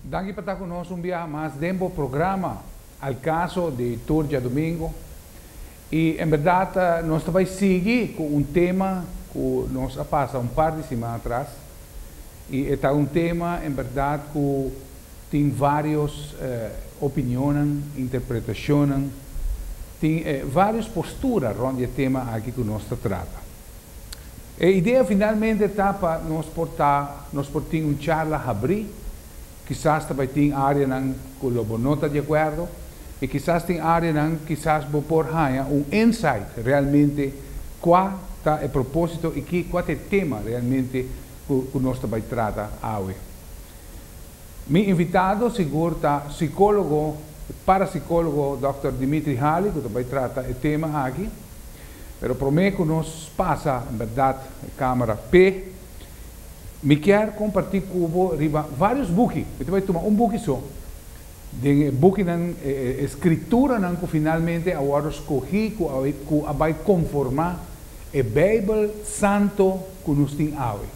Danki pa ta ku nos un biaha mas den bo programa Al Caso di tur djadumingu. I en berdad nos ta bai sigui ku un tema ku nos a pasa un par di siman atras. I e ta un tema en berdad ku tin vários opinionnan, interpretashonnan, tin vários postura rònt di e tema aki ku nos ta trata. E idea finalmente ta pa nos por ta, nos por tin un charla habrí, kisas ta bai tin áreanan ku lo bo no ta di akuerdo, i kisas tin áreanan kisas bo por haña un insight realmente kua ta e propósito i kua ta e tema realmente ku nos ta bai trata awe. Mi invitado sigur ta psicólogo, parapsicólogo Dòkter Dimitri Haly cu ta bay trata e tema aki. Pero prome cu nos pasa en berdad e camera p'e, mi kier comparti cu bo riba varios buki. Mi ta bay tuma un buki so. Den e bukinan, e scrituranan cu finalmente a wordo scogi cu a bay conforma e Bijbel Santo cu nos tin awe.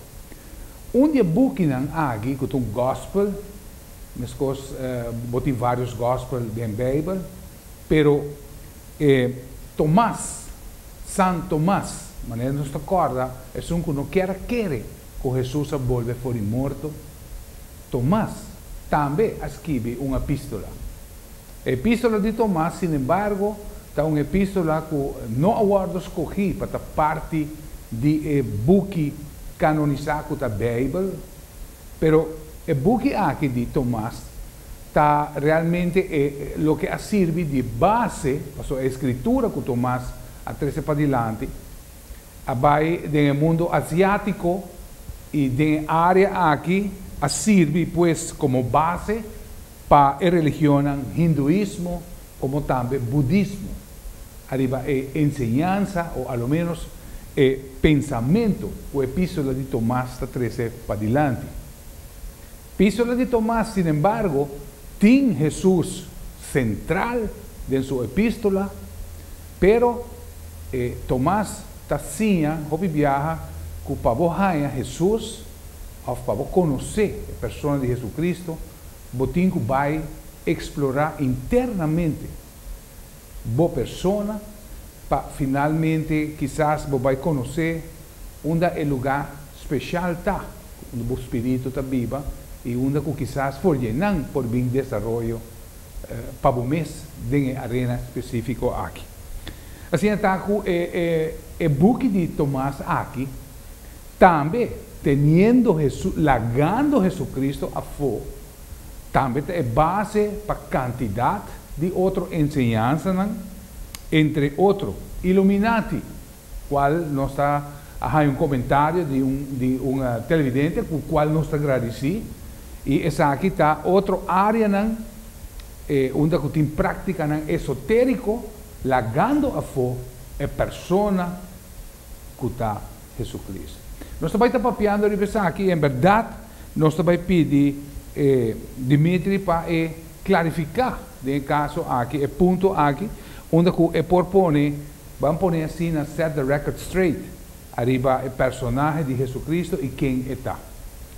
Un di e bukinan aki ku ta un gòspel, meskos bo tin vários gòspel den Beibel, pero e Tomas, San Tomas, manera nos ta kòrda esun ku no kier a kere ku Hesus a bolbe for di morto, Tomas tambe a skibi un epístola. E Epístola di Tomás, sin embargo, ta un epístola ku no a wòrdu skogí pa ta parti di e buki kanonisá ku ta Beibel. Pero e buki aki di Tomás ta realmente e loke a sirbi di base, pasobra e Skritura ku Tomás a trese padilanti a bai den e mundu asiátiko i den e área aki a sirbi pues komo base. Pa e religionnan Hinduismo komo tambe Budismo, ariba e enseñansa o a lo ménos e pensamentu ku Epístola di Tomas ta trese padilanti. Epístola di Tomas, sinembargo, tin Hesus sentral den su epístola, pero e Tomas ta siña hopi biaha ku pa bo haña Hesus òf pa bo konosé e persona di Hesukristu, bo tin ku bai eksplorá internamente bo persona pa finalmente kisas bo bai konosé unda e lugá speshal ta ku unda bo spiritu ta biba i unda ku kisas for dje nan por bin desaroyo pa bo mes den e arena spesífiko aki. Asina ta ku e buki di Tomás aki. Tambe, teniendo Hesus, lagando Hesucristo afo, tambe ta e base pa cantidad di otro enseñansanan, entre otro, Illuminati, cual nos ta a haya un comentario di un di un televidente cu cual nos ta gradici, y esaki ta otro areanan e unda cu tin practicanan esoterico, lagando afo e persona cu ta. Jesucrist. Nos ta bai ta papiando riba esaki y en berdad nos ta bai pidi e Dimitri pa e clarifica den e caso aki, e punto aki, unda cu e por pone, ban pone asina, set the record straight ariba e personahe di Jesucristo y ken e ta.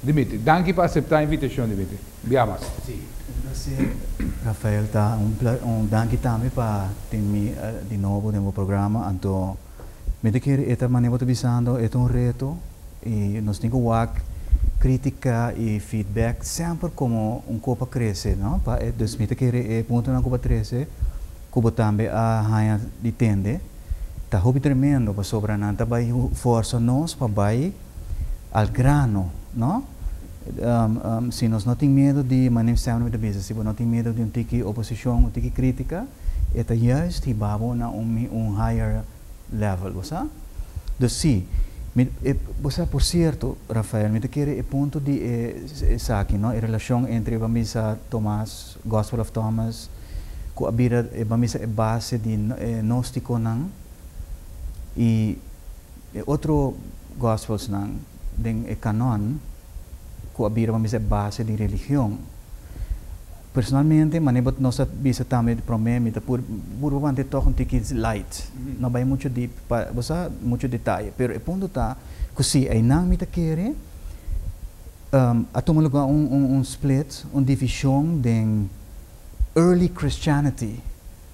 Dimitri. Danki pa acepta e invitacion, Dimitri. Bia mas. Si, un placer, Rafael. Ta un pla, un danki tambe pa tin mi di nobo den bo programa. Anto. Mi ta kere e ta mane bo ta bisando, e ta un reto i nos tin ku wak kritika i feedback semper komo un ko pa krese, no? Pa dus mi ta kere e puntonan ku bo a trese, ku bo tambe a haña di tende, ta hopi tremendo pasobra nan ta bai forsa nos pa bai. Al grano, no? Si nos no tin miedo di maneer Sam Nui ta bisa, si bo no tin miedo di un tiki oposicion, un tiki critica, e ta juist hiba bo na un higher level, bo sa? Dus si, mi, e, bo sa, por cierto, Rafael, mi ta kere e punto di e esaki, no, e relacion entre e bambisa Thomas, Gospel of Thomas, cu a bira e bambisa e base di e gnosticonan y E otro Gospelsnan den e Canon cu a bira pa mester base di religion. Personalmente, manera bo nos a bisa tambe di prome, mi ta puru puru pa mante tog un tiki light, no bay mucho deep pa bo sa mucho detaye. Pero e punto ta cu si eynan mi ta kere a tuma lugar un un un split, un division den early Christianity.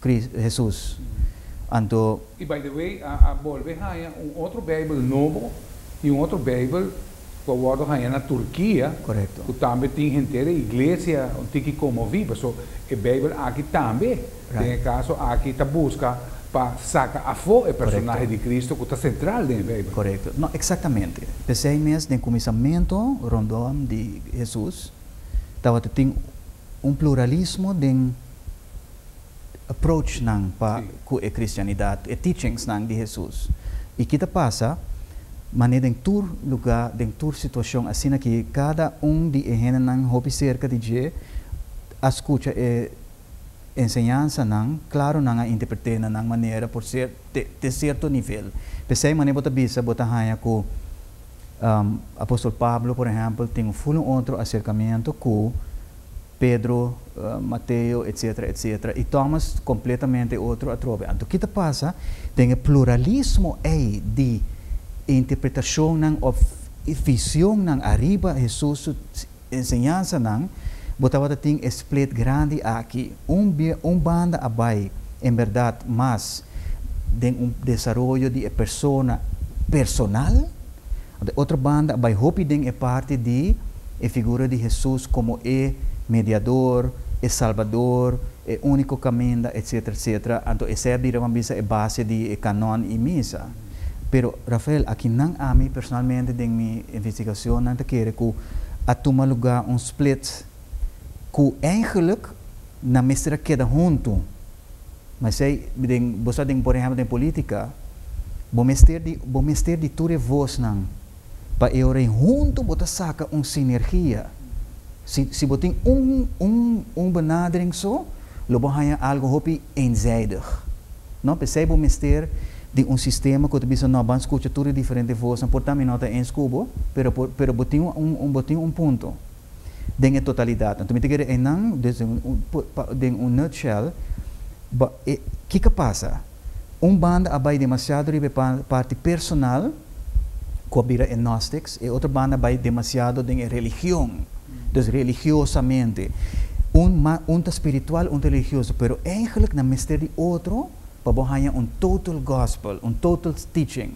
Cris, Hesus. Anto. Y by the way a a bolbe haña un otro bijbel nobo y un otro bijbel cu a wordo haña na Turquia Correcto. cu tambe tin henter e iglesia un tiki conmovi paso e bijbel aki tambe den e Right. caso aki ta busca pa saca afo e personahe Correcto. di Cristo cu ta central den e bijbel. Correcto. No, exactamente. Pesey mes den cuminsamento rondom di Hesus tabata tin un pluralismo den approach nan pa ku e kristianidat, e teachings nan di Hesus. I ki ta pasa? Manera den tur lugá, den tur situashon, asina ki kada un di e hendenan hopi serka di dje a skucha e enseñansanan, klaru nan a interpret'é na nan manera por ser te sierto nivel. P'esei manera bo ta bisa bo ta haña ku apòstel Pablo, por ehèmpel, tin un ful un otro aserkamentu ku. Pedro, Mateo, etc. Etc. I Thomas completamente e otro atrobe. Anto ki ta pasa den e pluralismo ei di interpretacionnan of visionnan ariba Hesus su enseñansanan, bo tabata tin e split grandi aki. Un un banda a bai en berdad mas den un desaroyo di e persona personal. Di otro banda a bai hopi den e parti di e figura di Hesus komo e Mediador, e Salbador, e úniko kaminda, etsetera, etsetera. Anto esei a bira, bo a bisa, e base di e kanòn i misa. Pero, Rafael, akinan ami personalmente den mi investigacionnan ta kere ku a tuma lugá un split. Ku engeluk nan mester a keda huntu. Mesei den bo sa den por ehèmpel den polítika bo mester di bo mester di tur e vosnan pa e ora ei huntu bo ta saka un sinergia. Si si bo tin un un un benadering so lo bo haña algu hopi eenzijdig. No p'esei bo mester di un sistema ku ta bisa no ban skucha tur e diferente vosnan por ta mi no ta eens ku bo pero por pero bo tin un bo tin un punto. den e totalidat. Anto mi ta kere einan den un nutshell, kiko pasa? Un banda a bai demasiado riba e parti personal ku a bira e Gnostics, e otro banda bai demasiado den e religion, dus religiosamente. Un un ta spiritual, un ta religioso, pero eigenlik nan mester di otro pa bo haña un total gospel, un total teaching.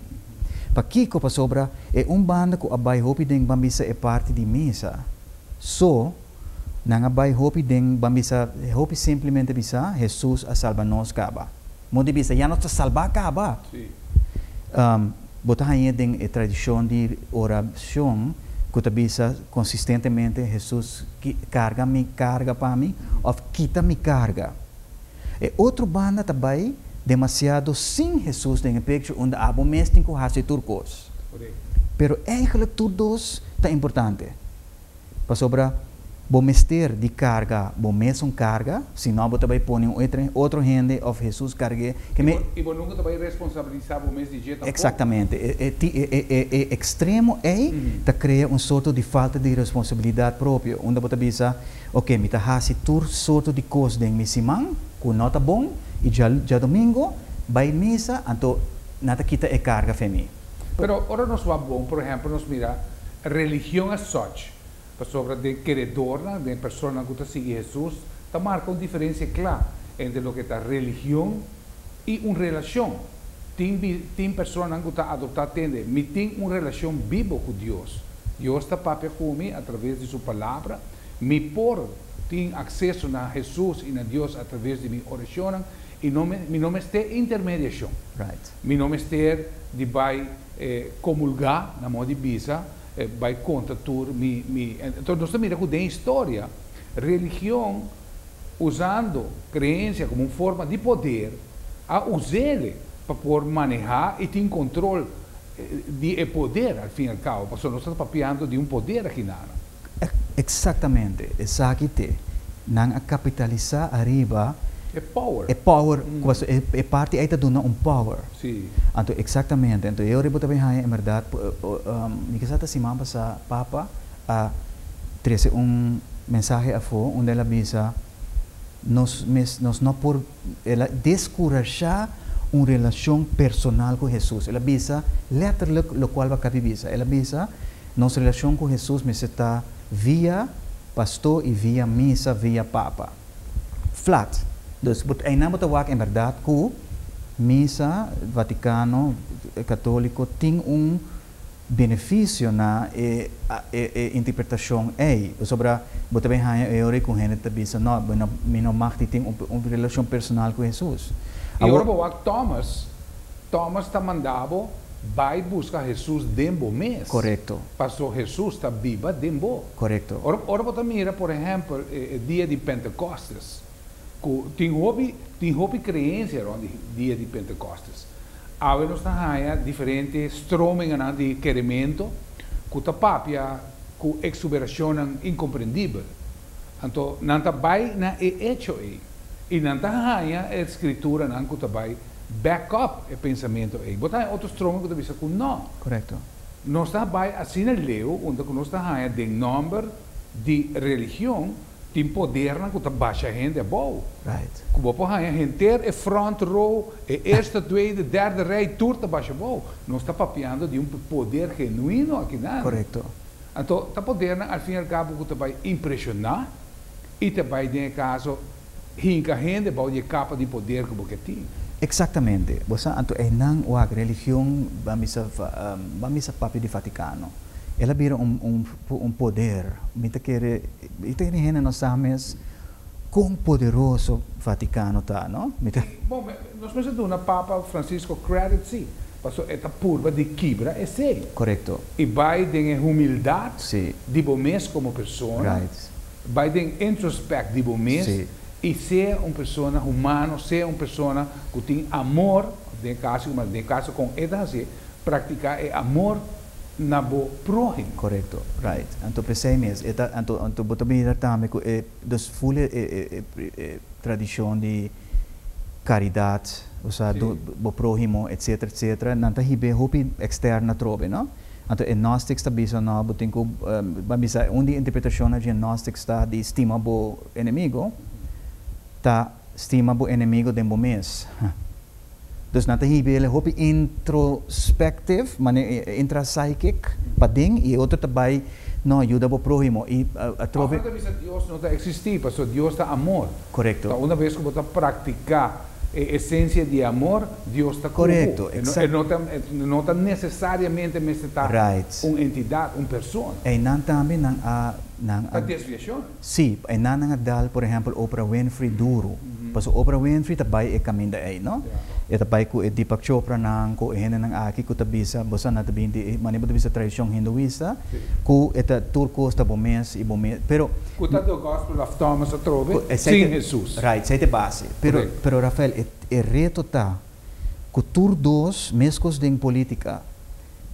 Pakiko? Pasobra e un banda ku a bai hopi den bambisa e parti di mesa. So, nan a bai hopi den bambisa hopi simplemente bisa, Hesus a salba nos kaba. Mos di bisa, ya nos ta salbá kaba! Bo ta hañ'é den e tradishon di orashon ku ta bisa konsistentemente, Hesus, karga mi karga pa mi òf kita mi karga. E otro banda ta bai demasiado sin Hesus den e pekcho unda abo mes tin ku hasi tur kos. Pero eigelijk tur dos ta importante. Pasobra bo mester di karga bo mesun karga, sino bo ta bai pone un otro hende òf Hesus karg'é. I bo nunka ta bai responsabilisa bo mes di dje tampok. Eksaktamente. E ekstremo ei ta krea un sorto di falta di responsabilidat propio, unda bo ta bisa, Oke, mi ta hasi tur soto di kos den mi siman ku no ta bon, i djadomingo bai misa, anto nan ta kita e karga fe mi. Pero ora nos wak bon, por ehèmpel nos mira religion as such, pasobra den keredornan, den personanan ku ta sigui Hesus, ta marka un diferensia kla entre loke ta religion i un relashon. Tin tin personanan ku ta adoptá tende, Mi tin un relashon bibo ku Dios. Dios ta papia cu mi atraves di su Palabra. Mi por tin acceso na Hesus y na Dios atraves di mi oracionnan y no me mi no mester intermediacion. Right. Mi no mester di bay comulga na modo di bisa bay contra tur mi mi. Entonces nos ta mira cu den historia religion usando creencia como un forma di poder a usele pa por maneha y tin control. di e poder al fin y al cabo, pasobra nos ta papiando di un poder aki na Ara. Exactamente, esaki t'e nan a capitalisa ariba e power, e power cu pasobra e e parti ey ta duna un power. Si. Anto exactamente, anto e ora bo ta bay haya en berdad, mi kisa ta siman pasa Papa a trece un mensahe afo unda el a bisa, nos mes, nos no por, el a descurashá un relacion personal cu Hesus. El a bisa letterlijk locual Bacapi bisa. El a bisa, Nos relacion cu Hesus mester ta via Pasto y via Misa, via Papa. Flat. Dus, bo, eindnan bo ta wak en berdad cu Misa, Vaticano, Catolico, tin un beneficio na e e interpretacion ey, pasobra bo ta bin haya e ora cu hende ta bisa, No, mi no, mi no mag tin tin un relacion personal cu Hesus. Y ora bo wak Thomas, Thomas ta manda bo, Bay busca Hesus den bo mes, Correcto. paso Hesus ta biba den bo. Correcto. Ora, ora bo ta mira, por ehempel, e e dia di Pentecostes, cu tin hopi, tin hopi creencia rond di dia di Pentecostes. Awe nos ta haña diferente strominganan di kerementu ku ta papia ku eksuberashonnan inkomprendibel. Anto nan ta bai na e echo ei i nan ta haña e skrituranan ku ta bai back up e pensamentu ei. Bo ta haña otro stroming ku ta bisa ku nò. Korekto. Nos ta bai asina leu unda ku nos ta haña den nòmber di religion. Tin podernan ku ta basha hende abou. Ku bo por haña henter e front row, e eerste, tweede, derde rij tur ta basha abou. Nos ta papiando di un poder genuino akinan. Anto ta podernan al fin y al cabo ku ta bai impreshoná i ta bai den e kaso hinka hende bou di e kapa di poder ku bo ke tin. Eksaktamente. Bo sa, anto einan wak religion ba misa, ba misa papia di Vatikano. El a bira un, un. Por un poder. Mi ta kere, mi ta kere hende no sa mes kon poderoso Vaticano ta, no? Mi ta. Bon, me, nos mester duna Papa Francisco credit, si, paso e ta purba di kibra esey. Correcto. Y bay den e humildad. Si. Di bo mes como persona. Right. Bay den introspect di bo mes. Si. Y sea un persona humano, sea un persona cu tin amor, den e caso, den e caso con e ta haci, practica e amor. na bo próhimo. Korekto, right. Anto p'esei mes, e ta, anto, anto bo ta bira tambe ku e, dus full e, e, e, e tradishon di karidat, bo sa do, Si. bo próhimo, etsetera, etsetera, nan ta hib'é hopi ekstèrno atrobe, no? Anto e Gnostics ta bisa, no, bo tin ku, ban bisa, un di e interpretashonnan di e Gnostics ta di stima bo enemigo, ta stima bo enemigo den bo mes. Dus nan ta hib'é el e hopi introspective, mane e intra psychic paden, i e otro ta bai no yuda bo próhimo, i atrobe. Afro ta bisa Dios no ta eksistí, pasobra Dios ta amor. Korekto. Ta una bes ku bo ta praktiká e esensia di e amor, Dios ta ku bo. Korekto, eksak. E no ta, e no ta nesesariamente mester ta. Right. Un entidat, un persona. Einan tambe nan a, nan a. Ta desviashon. Sí, pa e nannan a dal por ehempel Oprah Winfrey duru, pasobra Oprah Winfrey ta bai e kaminda ei, no? E ta bai ku e Deepak Chopranan, ku e hendenan aki ku ta bisa boso a na ta bin di e manera bo ta bisa tradishon hinduista, ku e ta tur kos ta bo mes i bo mes, pero. Ku ta do gospel of Thomas atrobe sin Hesus. Right, esei ta e base. Pero, pero Rafael, e reto ta ku tur dos, meskos den politika,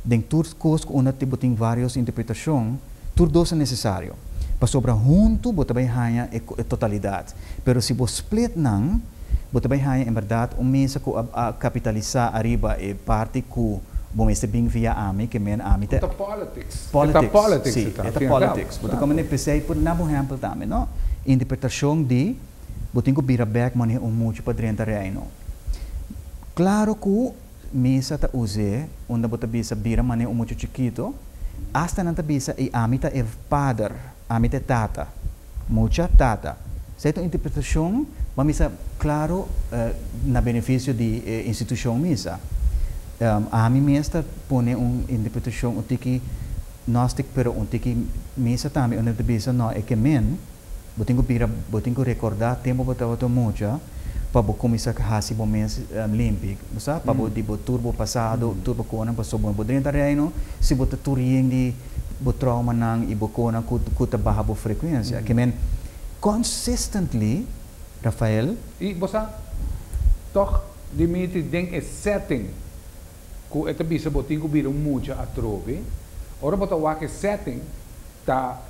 Den tur kos ku unda bo tin vários interpretashon, tur dos ta nesesario, pasobra huntu bo ta bai haña e totalidat. Pero si bo split nan, bo ta bai haña en bèrdat un mesa ku a kapitalisá ariba e parti ku bo mester bin via ami, ke men ami ta. Bo ta politics. E ta politics, e ta, al fin i al kabo. Si, e ta politics. Bo ta kome ne p'esei por na bo hèmpel tambe, no? Interpretashon di bo tin ku bira bèk manera un muchu pa drenta reino. Klaro ku Misa ta us'é unda bo ta bisa bira man'é un muchu chikitu, asta nan ta bisa i ami ta e pader, ami ta e tata. Mucha tata. Esei ta un interpretashon pa mi sa klaru na benefisio di e institushon misa. Ami mes ta pone un interpretashon un tiki nostik pero un tiki misa tambe unda ta bisa no e ke men. Bo tin ku bira, bo tin ku rekordá tempu bo tabata un mucha pa bo kuminsá hasi bo mes limpi, bo sa, pa bo di bo tur bo pasado, tur bo konan pasobra bo no por drenta Reino si bo ta tur yen di bo tròumanan i bo konan ku ku ta baha bo frekuensia. Ke men consistently, Rafael. I bo sa, tòg Dimitri den e setting ku e ta bisa bo tin ku bira un mucha atrobe, ora bo ta wak e setting ta.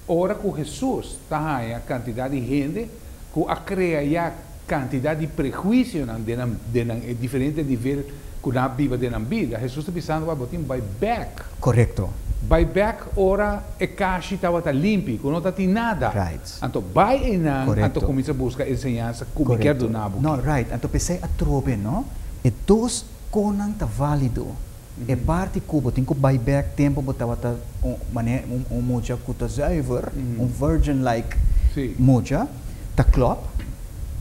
Ora ku Hesus ta haña kantidat di hende ku a krea ya kantidat di prehuisionan den nan e diferente nivel ku nan a biba den nan bida, Hesus ta bisando, Bo tin bai bèk. Korekto. Bai bèk ora e kashi tabata limpi, ku no tatin nada. Right. Anto bai einan, anto Korekto. kuminsa buska e enseñansa ku mi kier dunabo ki. No, right. Anto p'esei atrobe, no? E dos konan ta válido. E parti ku bo tin ku bai bèk tempu bo tabata un mane un mucha ku ta zùiver, un virgin like mucha, ta klòp,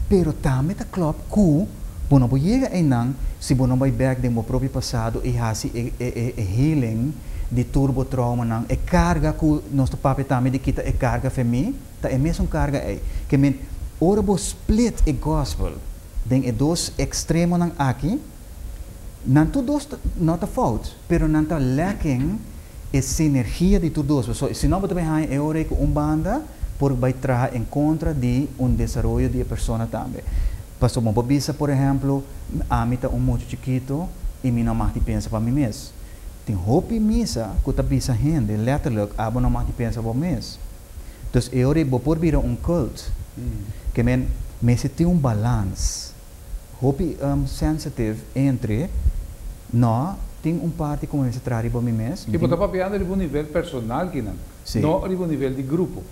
pero tambe ta klòp ku bo no por yega einan si bo no bai bèk den bo propio pasado i hasi e healing di tur bo tròumanan. E karga ku nos ta papia tambe di kita e karga femei, ta e mesun karga ei. Ke men, ora bo split e gòspel den e dos ekstremonan aki, Nan tur dos no ta fout, pero nan ta leken e sinergia di tur dos. Pasobra si no bo ta bay haña e ora ey cu un banda por bay traha en contra di un desaroyo di e persona tambe. Pasobra mi por bisa, por ehemplo, ami ta un mucha chikito y mi no mag di pensa pa mi mes. Tin hopi misa cu ta bisa hende letterlijk, abo no mag di pensa pa bo mes. Dus e ora ey bo por bira un cult. Ke men, mester tin un balans. Hopi um sensitive entre no tin un parti cu mi mester traha riba mi mes. Mi tin. Y bo ta papiando riba un nivel personal kinan. Si. No riba un nivel di grupo.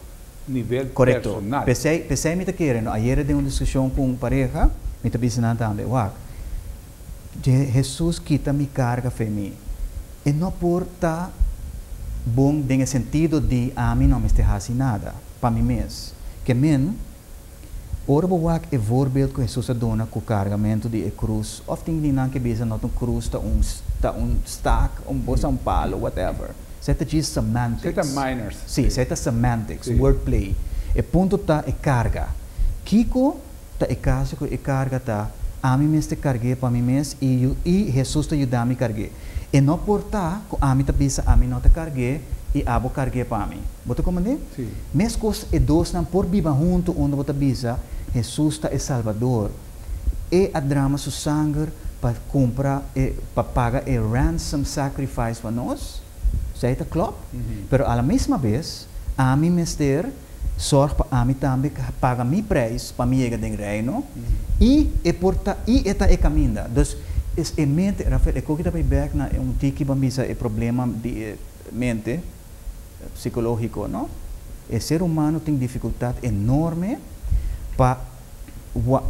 Nivel personal. Correcto. Pe esey mi ta kere no. Ayere den un discusion cu un pareha mi ta bisa nan tambe, wak, Jesus kita mi carga fe mi. E no por ta bon den e sentido di ami no mester haci nada pa mi mes. Ke men. Ora bo wak e voorbeeld ku Hesus a duna ku kargamentu di e krus, òf tin di nan ke bisa not un krus ta un ta un stak, un bosa, un palo, whatever. Esei ta djis semantics. Esei ta minors. Sí, esei ta semantics, word play. E punto ta e karga. Kiko ta e kaso ku e karga ta, ami mester karg'é pa mi mes i yu i Hesus ta yuda mi karg'é. E no por ta ku ami ta bisa ami no ta karg'é i abo karg'é pa mi. Bo ta komprendé? Sí. Meskos e dosnan por biba huntu unda bo ta bisa, Hesus ta e Salbador. E a drama su sanger pa kumpra e, pa paga e ransom sacrifice pa nos. Esei ta klop. Pero a la mesma bes, ami mester sòrg pa ami tambe paga mi preis pa mi yega den Reino, i e por ta, i e ta e kaminda. Dus, e mente, Rafael, e koki ta bai bèk na un tiki, ban bisa e problema di e mente. psicológico, no? E ser humano tin dificultad enorme pa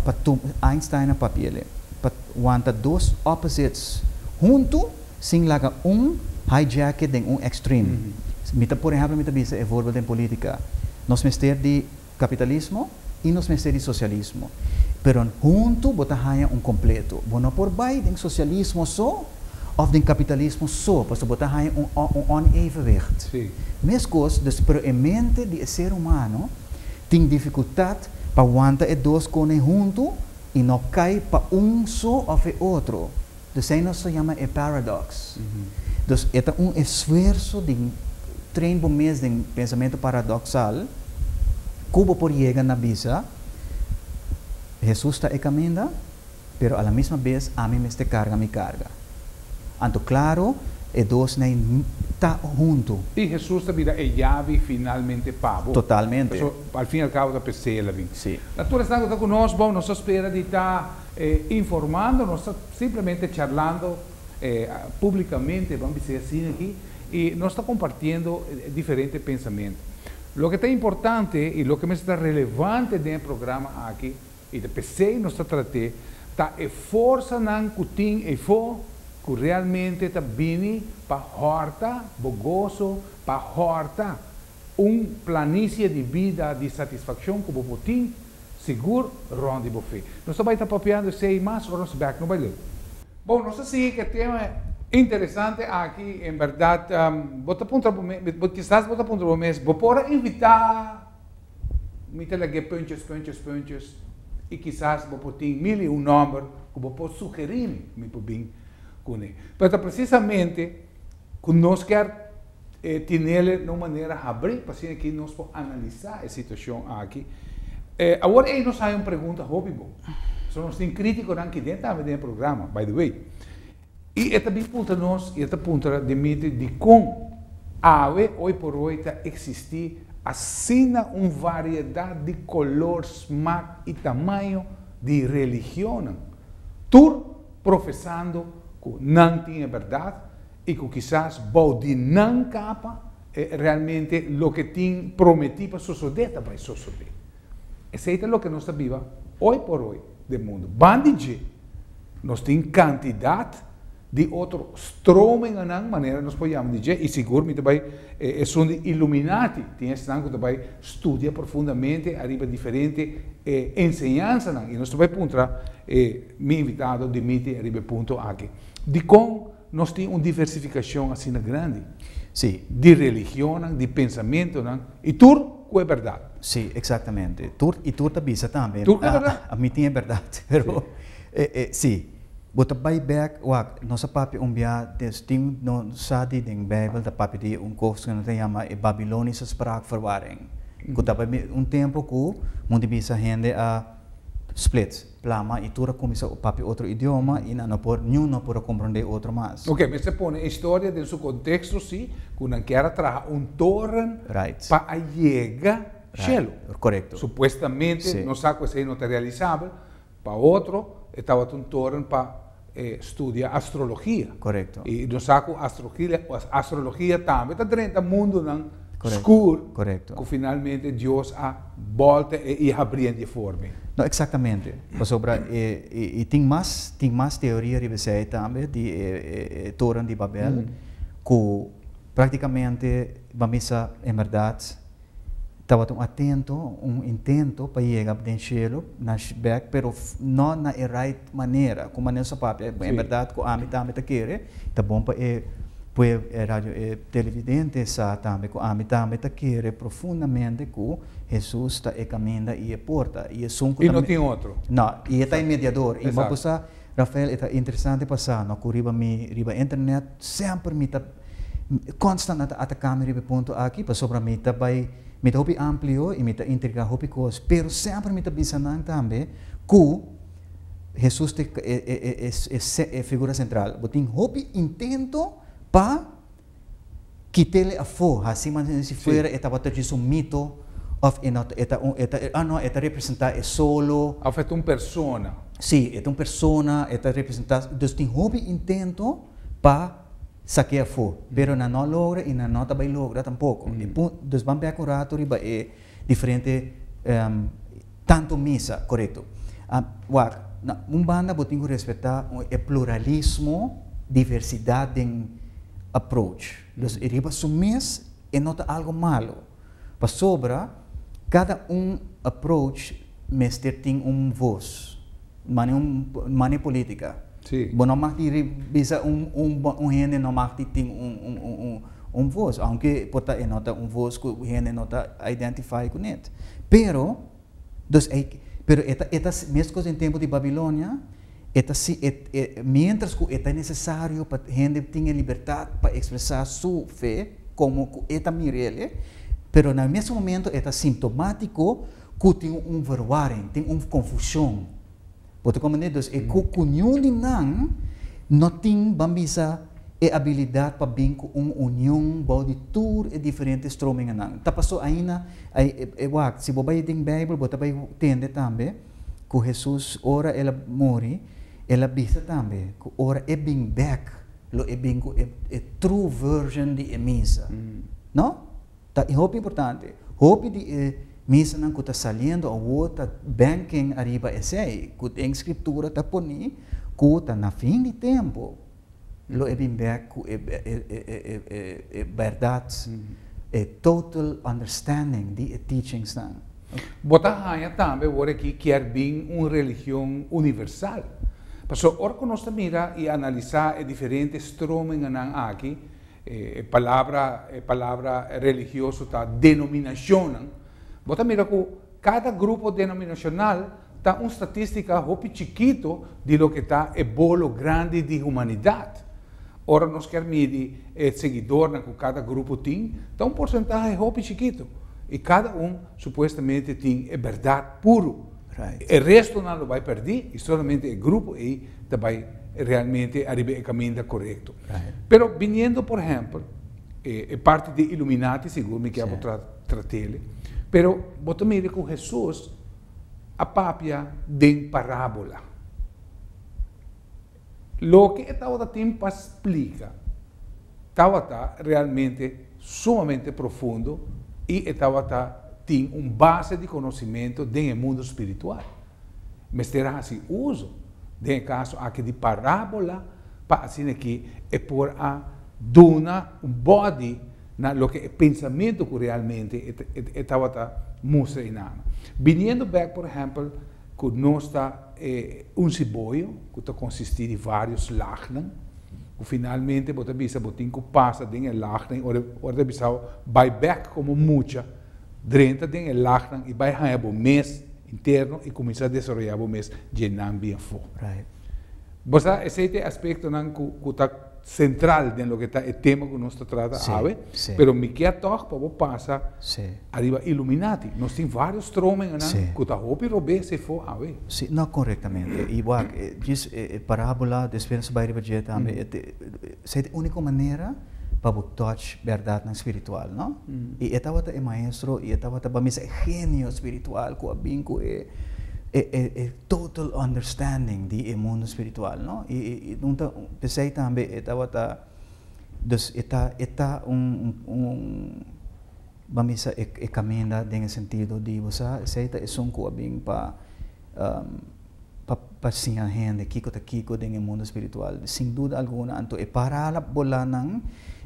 pa tuma, Einstein a papia el e, pa wanta dos opposites hunto sin laga un hijack e den un extreme. Mi ta, por ehemplo, mi ta bisa e voorbeeld den política. Nos mester di Kapitalismo i nos mester di sosialismo. Pero huntu bo ta haña un kompletu. Bo no por bai den sosialismo so òf den kapitalismo so, pasobra bo ta haña un un onevenwicht. Meskos dus, pero e mente di e ser humano tin difikultat pa wanta e dos kone huntu i no kai pa un so òf e otro. Dus esei nos ta yama e paradox. Dus e ta un esfuerso di train bo mes den pensamentu paradoksal ku bo por yega na bisa, Hesus ta e kaminda, pero a la misma bes ami mester karga mi karga. Anto klaru e dos nei ta huntu. I Hesus ta bira e yabi finalmente pa bo. Totalmente. Paso al fin y al cabo ta p'e sela bin. Si. Na tur esnan ku ta ku nos, bon, nos ta spera di ta E informando nos ta simplemente charlando publicamente ban bisei asina aki y nos ta compartiendo diferente pensamiento. Loke ta importante y loke mester ta relevante den e programa aki y ta pesey nos ta trate ta e forsanan cu tin eyfo cu realmente ta bini pa horta bo gozo, pa horta Un planicie di bida di satisfaccion cu bo por tin sigur rond di bo fe. Nos ta bay ta papiando esey mas ora nos bek no bay leu. Bon, nos a sigui cu e tema interesante aki. En berdad, bo ta puntra bo mes, kisas bo ta puntra bo mes, Bo por a invita mi ta lag'é punches, punches, punches? Y kisas bo por tin mil y un nomber cu bo por sugeri mi, mi por bin cune. Pero ta precisamente cu nos kier e tinele na un manera habrí pasobra aki nos por analisá e situashon aki. E awor ei nos haña un pregunta hopi bon. Pasobra nos tin krítikonan ki den tambe den e programa, by the way. I e ta bin puntra nos, i e ta puntra Dimitri, dikon awe hoyporoy ta eksistí asina un variedat di kolor, smak i tamaño di religionnan, tur profesando ku nan tin e bèrdat? i ku kisas bou di nan kapa e realmente loke tin prometí pa sosodé ta bai sosodé. Esei ta loke nos ta biba oi por oi den mundu. Ban di dje nos tin kantidat di otro strominganan, manera nos por yama di dje, i sigur mi ta bai e esun di iluminati, tin esnan ku ta bai studia profundamente ariba diferente e enseñansanan, i nos ta bai puntra e mi invitado Dimitri ariba e punto aki. Dikon? Nos tin un diversificacion asina grandi. Sí. Di religionnan, di pensamentonan, y tur cu e berdad. Sí, exactamente. Tur, y tur ta bisa tambe. Tur cu e berdad. Ah, ami tin e berdad. Pero, eh, eh, sí. Bo ta bay bek, wak, nos a papia un bia de, tin, no sa di den Bijbel ta papia di un cos cu nan ta yama e Babilonische Spraakverwarring, cu tabata un tempo cu, moen di bisa, hende a split. Plama y tur a cuminsa papia otro idioma y nan no por niun no por a comprende otro mas. Ok, mester pone e historia den su contexto si, cu nan kier a traha un toren Right. pa a yega shelu. Right, corecto. Supuestamente, Si. nos sa cu esey no ta realisabel, pa otro e tabata un toren pa. studia astrologia. Correcto. Y nos sa cu astrologia tambe ta drenta mundonan scuur cu finalmente Dios a bolta e y a habri'e di e forma. No, exactamente. Pasobra y tin mas, tin mas teoria riba esey tambe di e Toren di Babel cu practicamente bo misa en berdad Tabata un atento, un intento pa yega den shelu, na shbek, pero no na e right manera, ku manera su papia, en berdad ku ami tambe ta kere, ta bon pa e pueblo, e radio, e televidente sa tambe ku ami tambe ta kere profundamente ku Hesus ta e kaminda i e porta, i esun ku ta. I no tin otro. No, i e ta e mediador, i maba ku sa. Rafael, E ta interesante pa sa, no ku riba mi, riba internet, semper mi ta konstant a ta ataka mi riba e punto aki, pasobra mi ta bai, mi ta hopi amplio i mi ta intriga hopi kos, pero semper mi ta bisa nan tambe ku Hesus ta e figura sentral. Bo tin hopi intento pa. Kitele afó, hasi mantenci fuera, e tabata djis un mito, of e no ta, e ta un, e ta, ah no, e ta representa e solo. Of e ta un persona. Sí, e ta un persona, e ta representa, dus tin hopi intento pa saké afó, pero nan no a logra i nan no ta bai logra tampoco. E pun, dus ban bek un rato riba e. Diferente tanto misa, korekto. Wak, na un banda bo tin ku respetá e pluralismo, diversidat den approach. Los e riba su mes e no ta algo malo. Pasobra kada un approach mester tin un vos mane un mane politica si bo no mag di bisa un un un hende no mag di tin un un un un un vos aunke por ta e no ta un vos cu hende no ta identify cu net pero dos ey pero e ta e ta mescos den tempo di Babilonia e ta si e e mientras cu e ta necesario pa hende tin e libertad pa expresa su fe como cu e ta mirele pero na e mesun momento e ta simptomatico Ku tin un verwaring, tin un konfushon. Bo ta kome ne dus e ku ku niun di nan no tin, ban bisa, e abilidat pa bin ku un union bou di tur e diferente strominganan. Ta pasó aina, ai, e, wak, si bo bai den Beibel bo ta bai tende tambe ku Hesus ora el a muri, el a bisa tambe ku ora e bin bèk lo e bin ku e, e true version di e misa. No? Ta e hopi importante. Hopi di e misanan ku ta saliendo awor ta bènken ariba esei ku den Skriptura ta pone ku ta na fin di tempu lo e bin bèk ku e e bèrdat, e total understanding di e teachingsnan. Bo ta haña tambe awor aki kier bin un religion universal. Pasobra ora ku nos ta mira i analisá e diferente strominganan aki, E palabra e palabra religioso ta denominacionnan. Bo ta mira cu cada grupo denominacional ta un statistica hopi chikito di loke ta e bolo grandi di humanidad. Ora nos kier midi e seguidornan cu cada grupo tin, ta un porcentahe hopi chikito, y cada un supuestamente tin e berdad puro. E restonan lo bay perdi y solamente e grupo ey ta bai realmente ariba e caminda corecto. Pero biniendo por ehempel e parti di illuminati sigur mi kier bo tratele, pero bo ta mira cu Jesus a papia den parabola. Loke e tawata tin pa splica tawata realmente sumamente profundo y e tawata tin un base di conocimento den e mundo spiritual. mester hasi uso den e kaso aki di parábola pa asina aki e por a duna un bòdi na loke e pensamentu ku realmente e tabata mustra i nama. Biniendo bèk por ehèmpel ku nos ta e un siboyo ku ta konsistí di vários lagnan, ku finalmente bo ta bisa bo tin ku pasa den e lagnan, ora ta bisao bai bèk komo mucha, Drenta den e lagnan i bai haña bo mes interno i kuminsá desaroyá bo mes dje nan bien fo. Bo sa, esei ta e aspektonan ku ta sentral den loke ta e tema ku nos ta trata awe, pero mi kia tòg pa bo pasa ariba Illuminati. Nos tin vários stromengenan ku ta hopi robes efo awe. Si, no, korektamente. I wak, djis e parábola, despues nos bai riba dje tambe, esei ta e úniko manera. pa bo touch berdadnan spiritual, no? I e tabata e maestro, i e tabata pa mi e genio spiritual ku a bin ku e, e, e, e total understanding di e mundo spiritual, no? I, i, i un ta, p'esei tambe e tabata, dus e ta, e ta un, un, un Bo a misa e e caminda den e sentido di bo sa esey ta esun cu a bin pa pa pa siña hende kico ta kico den e mundo espiritual. Sin duda alguna anto e paralabolannan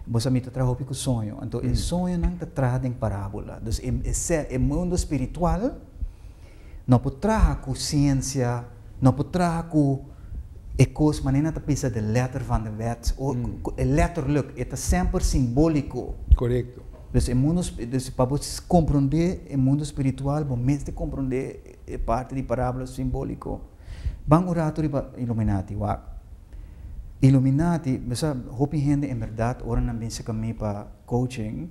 bo sa mi ta traha hopi cu soño anto e soñonan ta traha den parabola. Dus e e ser e mundo espiritual. No por traha cu ciencia, no por traha cu e cos manera nan ta bisa de letter van de wet, o cu e letterlijk, e ta semper simbolico. Corecto. Dus e mundo, dus pa bo comprende e mundo spiritual bo mester comprende e parti di parabula simbolico. Ban un rato riba Illuminati, wak. Illuminati, bo sa hopi hende en berdad ora nan bin seca mi pa coaching,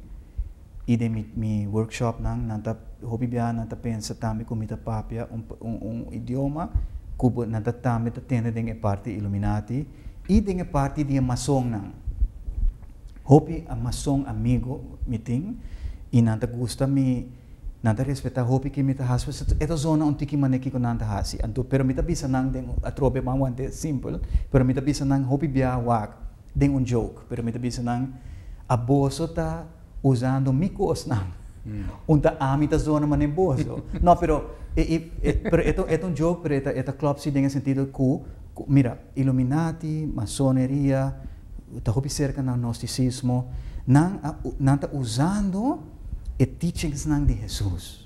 y den mi mi workshop nan nan ta hopi biaha nan ta pensa tambe cu mi ta papia un un idioma cu nan ta tambe ta tende den e parti illuminati y den e parti di e mason nan hopi a mason amigo mi tin y nan ta gusta mi nan ta respeta hopi ki mi ta haci pues e ta zona un tiki mane kico nan ta haci anto pero mi ta bisa nan den atrobe manguante simpel pero mi ta bisa nan hopi biaha wak den un joke, pero mi ta bisa nan, a boso ta usando mi cosnan, un ta ami ta zona manera boso. No, pero e, e, e, pero e ta, e ta un joke, pero e ta, e ta klop si den e sentido cu, cu, mira, Illuminati, Masoneria, ta hopi cerca na Gnosticismo, nan a, nan ta usando e teachingsnan di Hesus.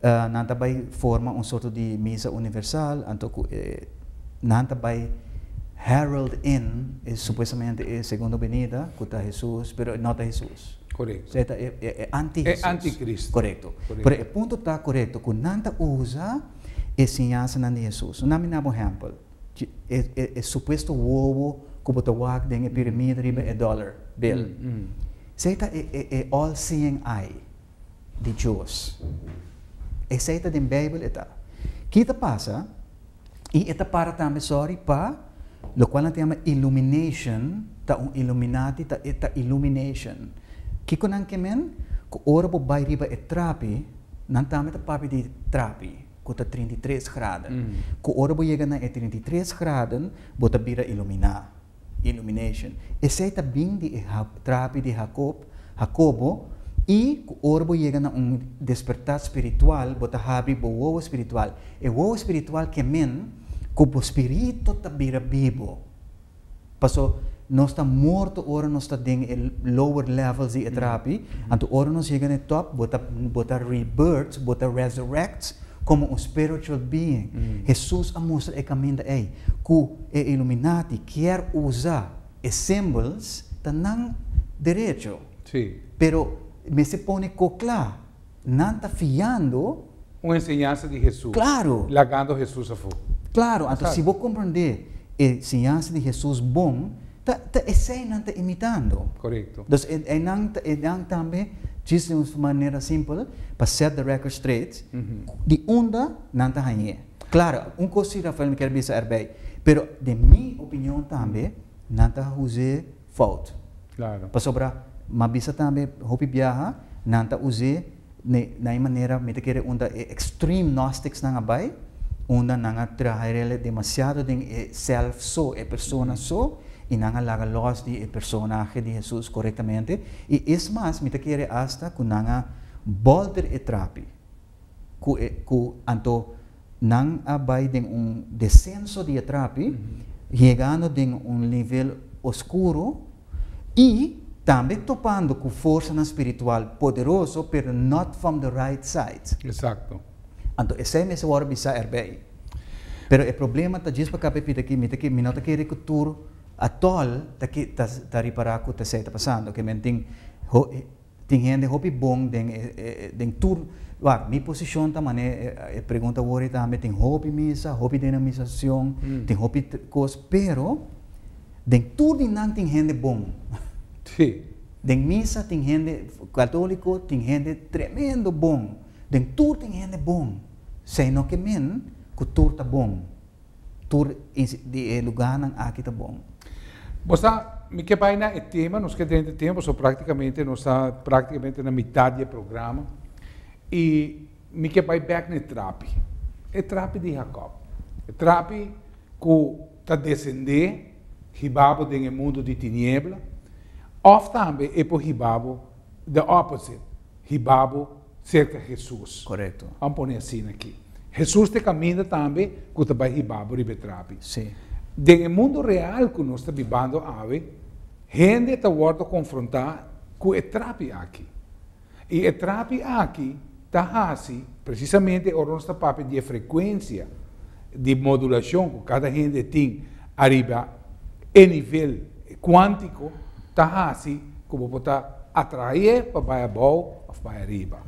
Nan ta bai forma un sorto di misa universal, anto ku e nan ta bai herald in e supuestamente e segundo benida ku ta Hesus, pero e no ta Hesus. Korekto. E ta e anti Hesus. E antikristu. Korekto. Pero e punto ta korekto ku nan ta usa e siñansanan di Hesus. Nan mina bo un ehèmpel. E supuesto wowo ku bo ta wak den e piramida riba e dollar bill. Se ta e all seeing eye. di Dios. Esei ta den Beibel e ta. Ki ta pasa, i e ta para tambe sòri pa lokual nan ta yama illumination, ta un illuminati, ta e ta illumination. Kiko nan ke men? Ku ora bo bai riba e trapi, nan tambe ta papia di trapi ku ta trinta i tres graden. Ku ora bo yega na e trinta i tres graden, bo ta bira illuminá. Illumination. Esei ta bin di e trapi di Hakob, Hakobo, i ku ora bo yega na un despertá spiritual bo ta habri bo wowo spiritual. E wowo spiritual ke men ku bo spiritu ta bira bibo. Paso nos ta morto ora nos ta den e lower levels di e trapi, anto ora nos yega na e top bo ta bo ta rebirth, bo ta resurrect, Komo un spiritual being, Hesus a mustra e kaminda ei ku e Illuminati kier usa e symbols ta nan derecho. Pero mester pone ko kla, nan ta fiando. Un enseñansa di Hesus, lagando Hesus afu. Claro, anto si bo komprondé e enseñansa di Hesus bon, Ta, ta esei nan ta imitando. Korekto. Dus e, einan, einan tambe djis den un manera simpel pa set the record straight di unda nan ta hañ'é. Klar, un kos si Rafael mi kier bisa erbei, pero den mi opinion tambe nan ta huz'é fout. Klaro. Pasobra, m'a bisa tambe hopi biaha nan ta huz'é De na e manera mi ta kere unda e extreme gnosticsnan a bai, unda nan a traha e rele demasiado den e self so, e persona so, i nan a laga los di e personahe di Hesus korektamente. I es mas, mi ta kere asta ku nan a bolter e trapi ku e ku anto Nan a bai den un desenso di e trapi, yegando den un nivel oskuro i tambe topando ku forsanan spiritual poderoso, pero not from the right side. Eksakto. Anto esei mester wòrdu bisá erbei. Pero e problema ta djis pa kap'e pida ki mi ta ke mi no ta kere ku tur atòl ta ke ta ta ripará ku esei ta pasando, ke men tin ho. Tin hende hopi bon den e den tur wacht mi posishon ta manera e pregunta wor ei tambe tin hopi misa hopi denomisashon tin hopi kos pero den tur di nan tin hende bon den misa tin hende katoliko tin hende tremendo bon den tur tin hende bon sey no ke men ku tur ta bon. Tur di e lugánan aki ta bon. Bo sa, mi ke bai na e tema, nos ke drenta e tema pasobra práktikamente nos ta práktikamente na mitat di e programa. I mi ke bai bèk na e trapi. E trapi di Hakòb. E trapi ku ta desendé hiba bo den e mundu di tiniebla òf tambe e por hiba bo the opposite, hiba bo. serka Hesus. Korekto. Ban pone asina aki. Hesus ta e kaminda tambe ku ta bai hiba bo riba e trapi. Si. Den e mundu real ku nos ta bibando awe, hende ta wòrdu konfrontá ku e trapi aki. I e trapi aki ta hasi presisamente ora nos ta papia di e frekuensia di modulashon ku kada hende tin. Ariba e nivel cuántico ta haci cu bo por ta atrae pa bay abao of bay ariba.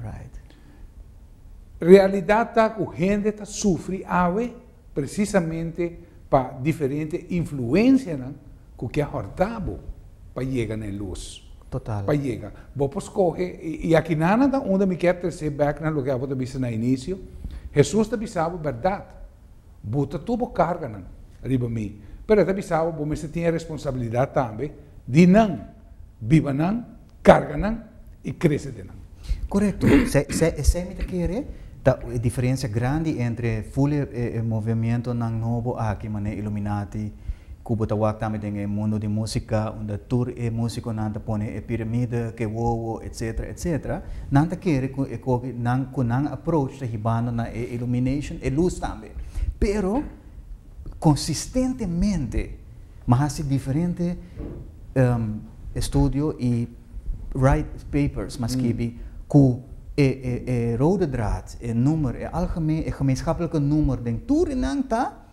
Realidad ta cu hende ta sufri awe precisamente pa diferente influencianan cu kier horta bo pa yega na e luz, pa yega. Bo por scoge, y akinanan ta unda mi kier trece back na loke abo ta bisa na inicio, Hesus ta bisa bo berdad. Bo ta tur bo karganan riba mi, pero e ta bisa bo bo mester tin e responsabilidat tambe di nan, biba nan, karga nan i krese den nan. Korekto, esei esei mi ta kere, ta e diferensia grandi entre ful e e movimentonan nobo aki, manera Illuminati, ku bo ta wak tambe den e mundo di músika unda tur e músikonan ta pone e piramide, ke wowo, etsetera, etsetera, nan ta kere ku e koki nan ku nan approach ta hibando na e illumination, e lus tambe. Pero konsistentemente mi a hasi diferente estudio i write papers mi a skibi ku e e rode draad, e nummer, e algemeen, e gemeenschapelijke nummer den tur di nan ta,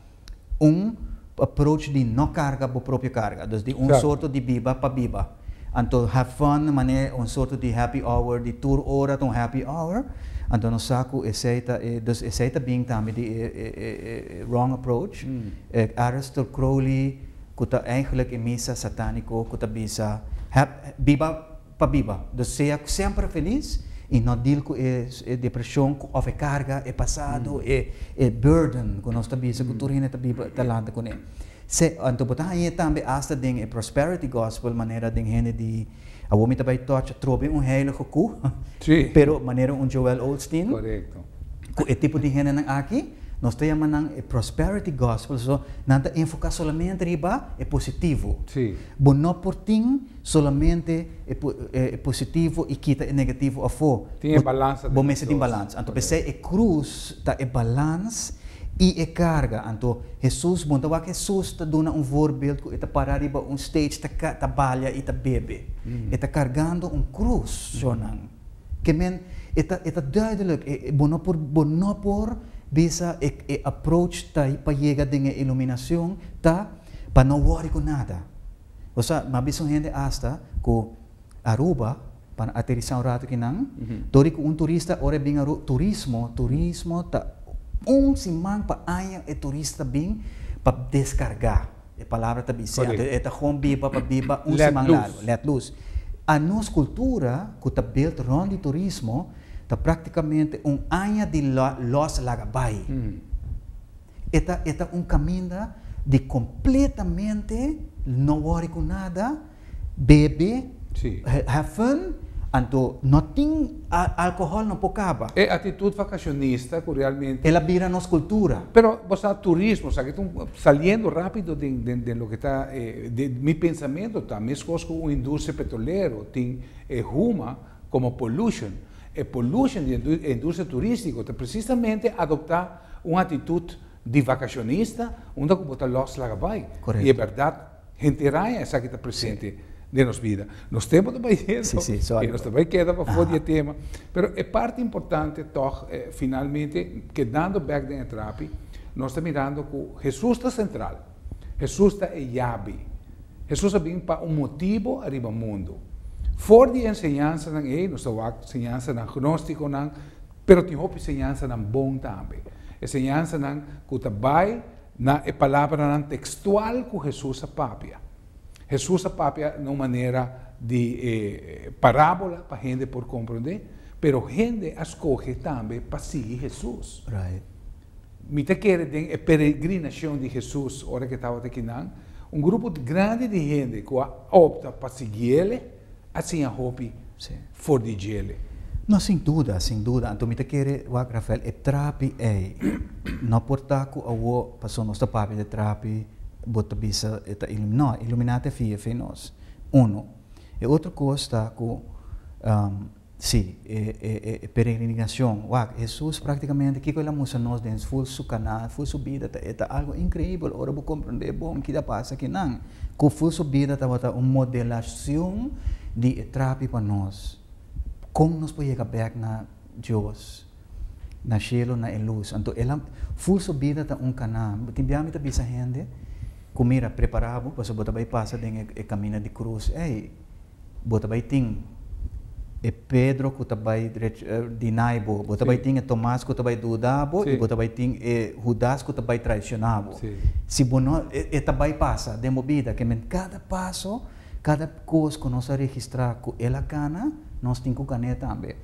un approach di no carga bo propio carga, dus di un sorto di biba pa biba, anto have fun manera e un sorto di happy hour di tur ora ta un happy hour, anto nos sa cu esey ta e, dus esey ta bin tambe di e wrong approach, e Aleister Crowley cu ta eigenlijk e misa satanico cu ta bisa, biba. Pa biba, desea cu semper feliz y no deal cu e depresion of e carga, e pasado, e burden cu nos ta bisa cu tur hende ta biba talante cu ne. Se, anto bo ta hañ'é tambe hasta den e prosperity gospel manera den hende di, awor mi ta bay touch atrobe un heilige cu, pero manera un Joel Osteen, cu e tipo di hendenan aki, nos ta yama nan e prosperity gospel, so, nan ta enfoca solamente riba e positivo. Bo no por tin. Solamente e e positivo y kita e negativo afo. Tin e balans ta den Bo mester tin dos. balans. Anto p'esei e cruz ta e balans y e carga. Anto Hesus, bon ta wak Hesus ta duna un voorbeeld cu e ta para riba un stage ta ca ta balia y ta bebe. E ta cargando un cruz so nan. Ke men e ta e ta duidelijk e e bo no por bo no por bisa e e approach ta pa yega den e iluminacion ta pa no worry cu nada. O sa, mi a bisa un hende asta ku Aruba pa nan aterisá un ratu kinan, dor di ku un turista ora e bin Aruba, turismo, turismo ta un siman pa aña e turista ta bin pa deskargá, e palabra ta bis'é antes, e ta hon biba pa biba un siman largu, lèt lus. Anos kultura ku ta built rònt di turismo ta praktikamente un aña di lòs laga bai. E ta e ta un kaminda di kompletamente no wòri ku nada, bebe, Sí. he- have fun, anto no tin a- alkohòl no por kaba. E atitut vakashonista ku realmente. El a bira nos kultura. Pero bo sa turismo, sa ke ta un, saliendo rápido den den den loke ta e de mi pensamentu ta meskos ku un industria petrolero tin e huma komo pollution. E pollution di e industria turístiko ta presisamente adoptá. Un atitut di vakashonista unda ku bo ta lòs laga bai. I e bèrdat, henter raña esaki ta presente den nos bida. Nos tempu ta bai hendo i nos ta bai keda pafó di e tema, pero e parti importante tòg, finalmente, kedando bèk den e trapi, nos ta mirando ku Hesus ta sentral. Hesus ta e yabi. Hesus a bin pa un motibu ariba mundu. For di e enseñansanan ei, nos ta wak señansanan gnóstikonan, Pero tin hopi señansanan bon tambe. E señansanan ku ta bai na e palabranan tekstual ku Hesus a papia. Hesus a papia na un manera di e parábola pa hende por komprondé, pero hende a skohe tambe pa sigui Hesus. Mi ta kere den e peregrinashon di Hesus ora ke tabata kinan, un grupo grandi di hende ku a opta pa sigui ele. a siña hopi for di djele. No, sin duda, sin duda. Anto mi ta kere wak Rafael, e trapi ei, no por ta ku awo paso nos ta papia di e trapi bo ta bisa e ta iluminá. No, e iluminá ta fia, fe nos. Uno. E otro kos ta ku. Sí, e e e peregrinacion. Wak, Hesus practicamente kico el a mustra nos den ful su canal, ful su bida ta e ta algo increibel ora bo comprende bon kida pasa aki nan, cu ful su bida tabata un modelacion di e trapi pa nos. Con nos por yega bek na Dios, na cielo, na e luz. Anto el a, ful su bida ta un canal. Tin bia mi ta bisa hende cu mira, prepara bo pasobra bo ta bay pasa den e e camina di cruz ey. bo ta bai tin e Pedro ku ta bai deny bo, bo ta bai tin e Tomas ku ta bai duda bo i bo ta bai tin e Hudas ku ta bai traisiona bo. Si bo no, e ta bai pasa den bo bida, ke men kada paso, kada kos ku nos a registra ku el a gana, nos tin ku gané tambe.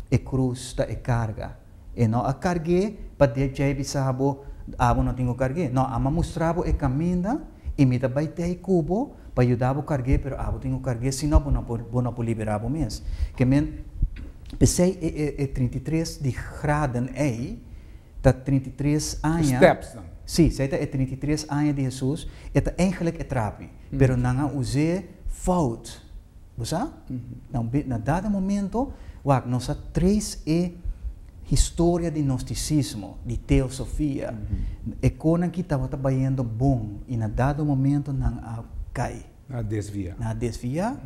E krus ta e karga. E no a carg'é pa dia djei bisa bo, Abo no tin cu carg'é. No, Ama mustra bo e caminda y mi ta bay tey cu bo pa yuda bo carg'é, pero abo tin cu carg'é, sino bo no bo no por libera bo mes. Ke men, p'esey e e e trinta i tres di graden ey ta trinta i tres aña, si, esey ta e trinta i tres aña di Hesus, e ta eigenlijk e trapi, pero nan a uz'é fout. Bo sa? Nan be, na dada momento, wak, nos a tres e historia di Gnosticismo, di Teosofia, e konan ki tabata bayendo bon i na dada momento nan a kai. Nan a desviá. Nan a desviá,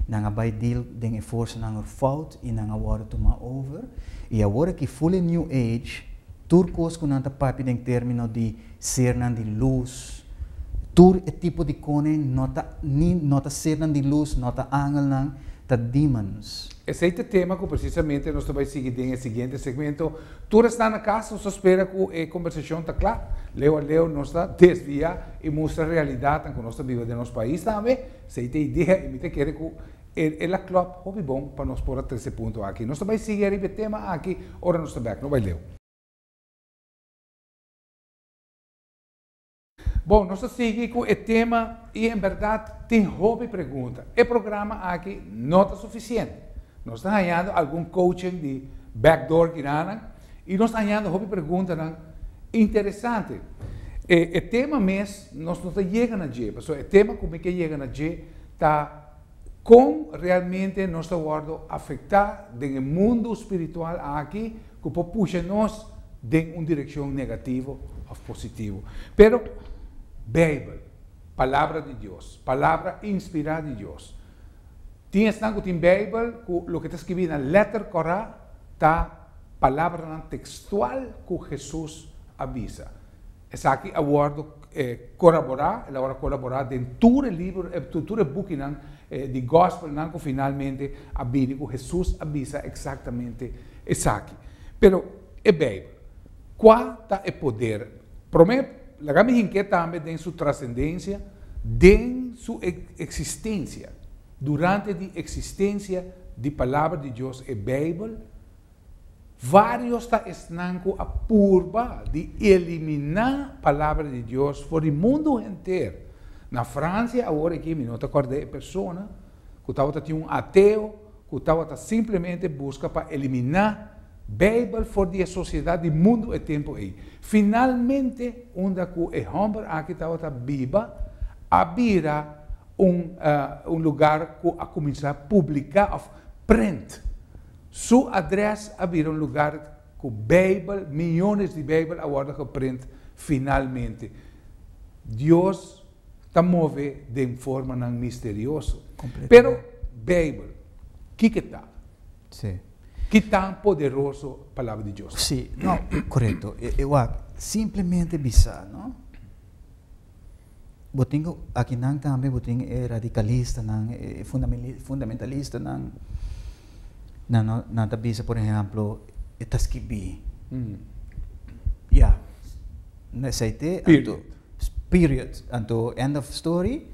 nan a bai deal den e forsanan ror fout i nan a wòrdu tumá over. I awor aki, fully New Age, tur kos ku nan ta papia den término di Sernan di lus. Tur e tipo di kone no ta ni no ta sernan di lus, no ta angelnan, ta demons. Esei ta tema ku presisamente nos ta bai sigui den e siguiente segmento. Tur esnan na kas, nos ta spera ku e kombersashon ta kla. Leu a leu nos ta desviá i mustra realidatnan ku nos ta biba den nos pais tambe. Esei ta e idea i mi ta kere ku e e la klòp hopi bon pa nos por a trese punto aki. Nos ta bai sigui ariba e tema aki ora nos ta bèk. No bai leu. Bon, nos ta sigui cu e tema y en berdad tin hopi pregunta. E programa aki no ta suficiente. Nos ta hañando algun coaching di back door kinanan y nos ta hañando hopi preguntanan interesante. E tema mes nos no ta yega na dje, pasobra e tema cu mi ke yega na dje ta. Kon realmente nos ta wòrdu afektá den e mundu spiritual aki ku por pusha nos den un direkshon negativo òf positivo? Pero Beibel, Palabra di Dios, Palabra inspirá di Dios. Tin esnan ku tin Beibel ku loke ta skibi na lèter kòrá ta palabranan tekstual ku Hesus a bisa. Esaki a wòrdu koraborá, el a wòrdu koraborá den tur e libro, tur e bukinan di Gòspelnan ku finalmente a bini ku Hesus a bisa eksaktamente esaki. Pero e Beibel, kua ta e poder? Promé, laga mi hink'é tambe den su trasendensia den su eksistensia. Durante di eksistensia di Palabra di Dios, e Beibel, Varios ta esnan cu a purba di elimina Palabra di Dios for di mundu henter. Na Francia awor aki mi no ta corda e persona cu tawata tin un ateo cu tawata simplemente busca pa elimina Bijbel for di e sociedad di mundu e tempo ey. Finalmente unda cu e homber aki tawata biba a bira un lugar cu a cuminsa publica of prent Su adrès a bira un lugar ku Beibel, miyones di Beibel a wòrdu geprint finalmente. Dios ta move den formanan misterioso. Pero, Beibel, kiko ta? Ki tan poderoso Palabra di Dios ta? Sí, no, korekto. E wak simplemente bisa, no? Bo tin ku akinan tambe bo tin e radikalistanan, e fundamentalistanan. Nan no, nan ta bisa por ehèmpel e ta skibí ya, na esei te anto period, anto end of story,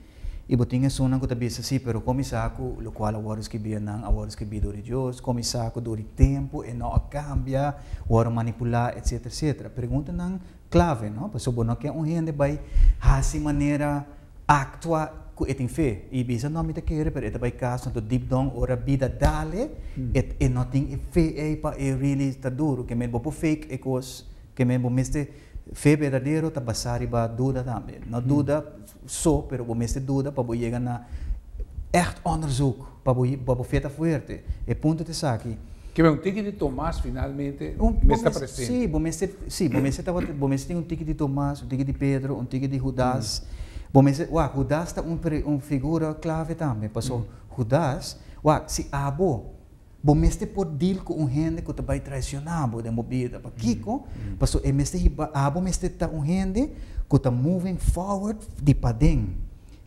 i bo tin esunnan ku ta bisa si, pero kon mi sa ku lokual a wòrdu skibí? Nan a wòrdu skibí dor di Dios? Kon mi sa ku dor di tempu e no a kambia, wòrdu manipulá, etsetera, etsetera. Preguntanan clave, no? Pasobra bo no ke un hende bai hasi manera actua cu e tin fe y bisa, no, mi ta kere, pero e ta bai cas tanto deep down ora bida dale, e, e no tin e fe ey pa e really ta duro. Ke men bo por fake e cos, ke men bo mester, fe berdadero ta basa riba duda tambe. No duda, so, pero bo mester duda pa bo yega na ècht ònderzoek, pa bo pa bo feta fuerte. E punto ta esaki. Kebe un tiki di Tomas finalmente mester ta presente. Sí, bo mester, sí, bo mester tabata, bo mester tin un tiki di Tomas, un tiki di Pedro, un tiki di Hudas. Bo mester, wak, Hudas ta un per, un figura clave tambe, pasobra Hudas, wak, si abo. Bo mester por deal ku un hende ku ta bai traisioná bo den bo bida. Pakiko? Pasobra e mester hiba, abo mester ta un hende ku ta moving forward di paden.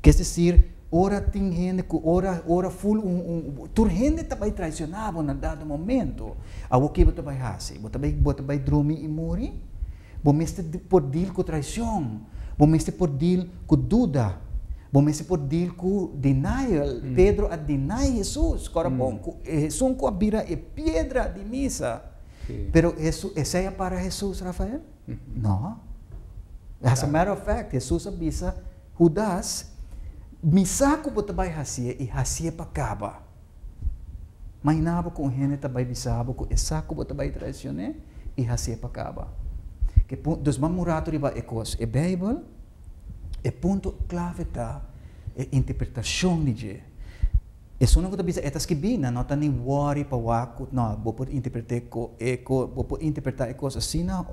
Ke es desir, ora tin hende ku ora, ora ful un, un, tur hende ta bai traisioná bo na dado momento, awor ke bo ta bai hasi? Bo ta bai, bo ta bai drumi i muri? Bo mester por deal ku traishon. Bo mester por deal ku duda. Bo mester por deal ku denial. Pedro a deny Hesus. Kòrapon ku e Hesun ku a bira e piedra di misa. Pero esei a para Hesus, Rafael? No. As a matter of fact, Hesus a bisa Hudas, Mi sa ku bo ta bai hasié, i hasié pa kaba. Mainabo ku un hende ta bai bisa bo ku esak ku bo ta bai traisioné i hasié pa kaba. Ke punto, dus mas murato riba e kos, e Beibel, e punto klave ta e interpretashon di dje. Esunnan ku ta bisa e ta skibí nan no ta ni wòri pa wak ku, no, bo por interpret'é e, bo por interpretá e kos asina,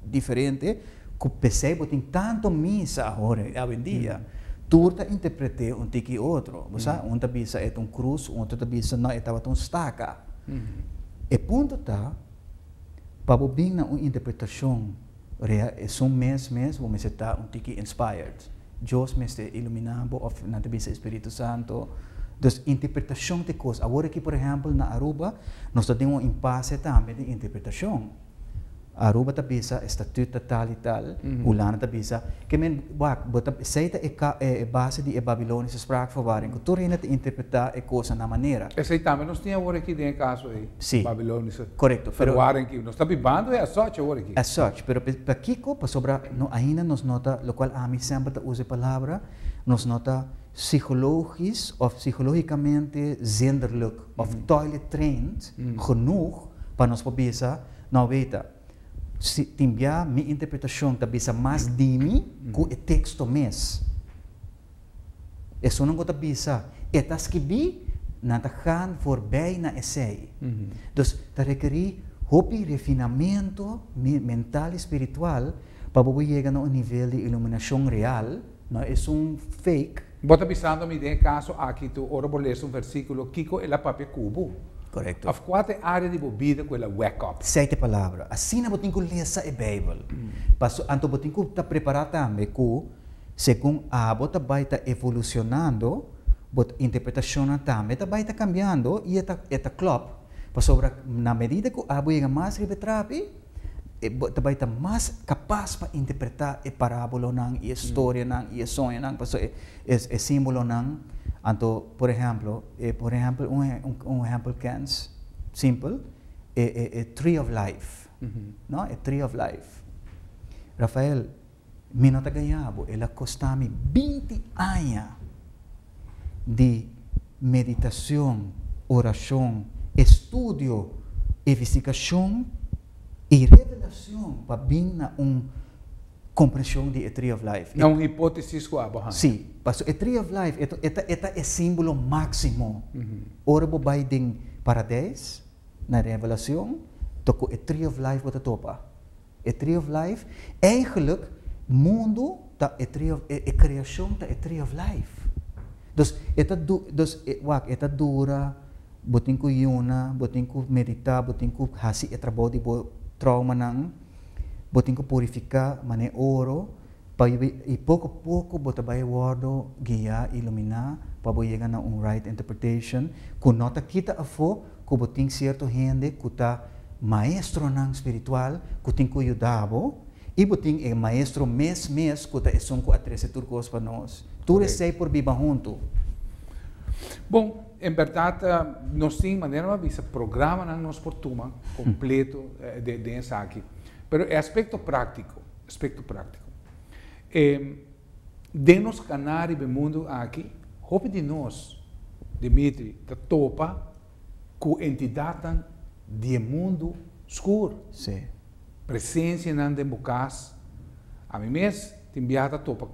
Diferente cu pesey bo tin tanto misa ahora y awendia, tur ta interprete un tiki otro. Bo sa, un ta bisa e ta un cruz, un otro ta bisa no e tabata un staca. E punto ta, pa bo bin na un interpretacion rea esun mes mes bo mester ta un tiki inspired. Dios mester ilumina bo of nan ta bisa e spiritu santo. Dus interpretacion ta e cos. Awor aki por ehempel na Aruba nos ta den un impasse tambe di interpretacion. Aruba ta bisa e statut ta tal i tal, Hulanda ta bisa, ke men, wak, bo ta, esei ta e ka, e base di e Babiloniese Spraakverwarring, ku tur hende ta interpretá e kosa na manera. Esei tambe nos tin awor aki den e kaso ei, Si, Babiloniese korekto, pero. Verwarring, ki nos ta bibando e as such awor aki. As such, pero pa, pa kiko? Pasobra no ainda nos no ta, lokual ami semper ta usa e palabra, nos no ta psihologisch of psihologicamente zenderlijk of toilet trained genoeg pa nos por bisa, No weta, si tin bia mi interpretacion ta bisa mas di mi cu e texto mes. Esun nan cu ta bisa e ta skibi, nan ta gaan voorbij na esey. Dus ta rekeri hopi refinamento mental y spiritual pa bo por yega na un nivel di iluminacion real. No esun fake. Bo ta bisando mi den e kaso aki tu ora bo lesa un vèrsikulo kiko el a papia ku bo. Korekto. Òf kua ta e área di bo bida ku el a wèk òp. Sète palabra, asina bo tin ku lesa e Beibel. Paso anto bo tin ku ta prepará tambe ku segun abo ta bai ta evolushonando, bo interpretashonnan tambe ta bai ta kambiando i e ta klòp. Pasobra na medida ku abo yega mas riba e trapi, e bo ta bai ta mas kapas pa interpretá e parábolonan i e storianan i e soñonan, pasobra e, e, e símbolonan. Anto, por ehèmpel, e, por ehèmpel, un, un ehèmpel kèns, simpel, e, e, e Tree of Life, no? E Tree of Life. Rafael, Mi no ta gaya bo, el a kosta mi binti aña di meditacion, oracion, estudio, evestigacion y revelacion pa bin na un comprension di e Tree of Life. Na un hipotesis cu abo haya. Si, pasobra e Tree of Life e ta e simbulo maximo. Ora bo bay den Paradijs, na Revelacion, ta cu e Tree of Life bo ta topa. E Tree of Life, eigenlik mundu ta e Tree of, e kreashon ta e Tree of Life. Dus e ta du, dus e, wak, e ta dura, bo tin ku yuna, bo tin ku meditá, bo tin ku hasi e trabou di bo troumanan, bo tin ku purifiká manera e oro, pa bo, i poko poko bo ta bai wòrdu guiá i iluminá pa bo yega na un right interpretation ku no ta kita afó ku bo tin sierto hende ku ta maestronan spiritual ku tin ku yuda bo, i bo tin e maestro mes mes ku ta esun ku a trese tur kos pa nos. Tur esei por biba huntu. Bon, en bèrdat nos tin manera bo a bisa programanan nos por tuma kompleto den esaki. Pero e aspekto práktiko, aspekto práktiko. Den nos kaná riba e mundu aki, hopi di nos, Dimitri, ta topa ku entidatnan di e mundu skur. Sí. Presensianan den bo kas. Ami mes tin biaha ta topa,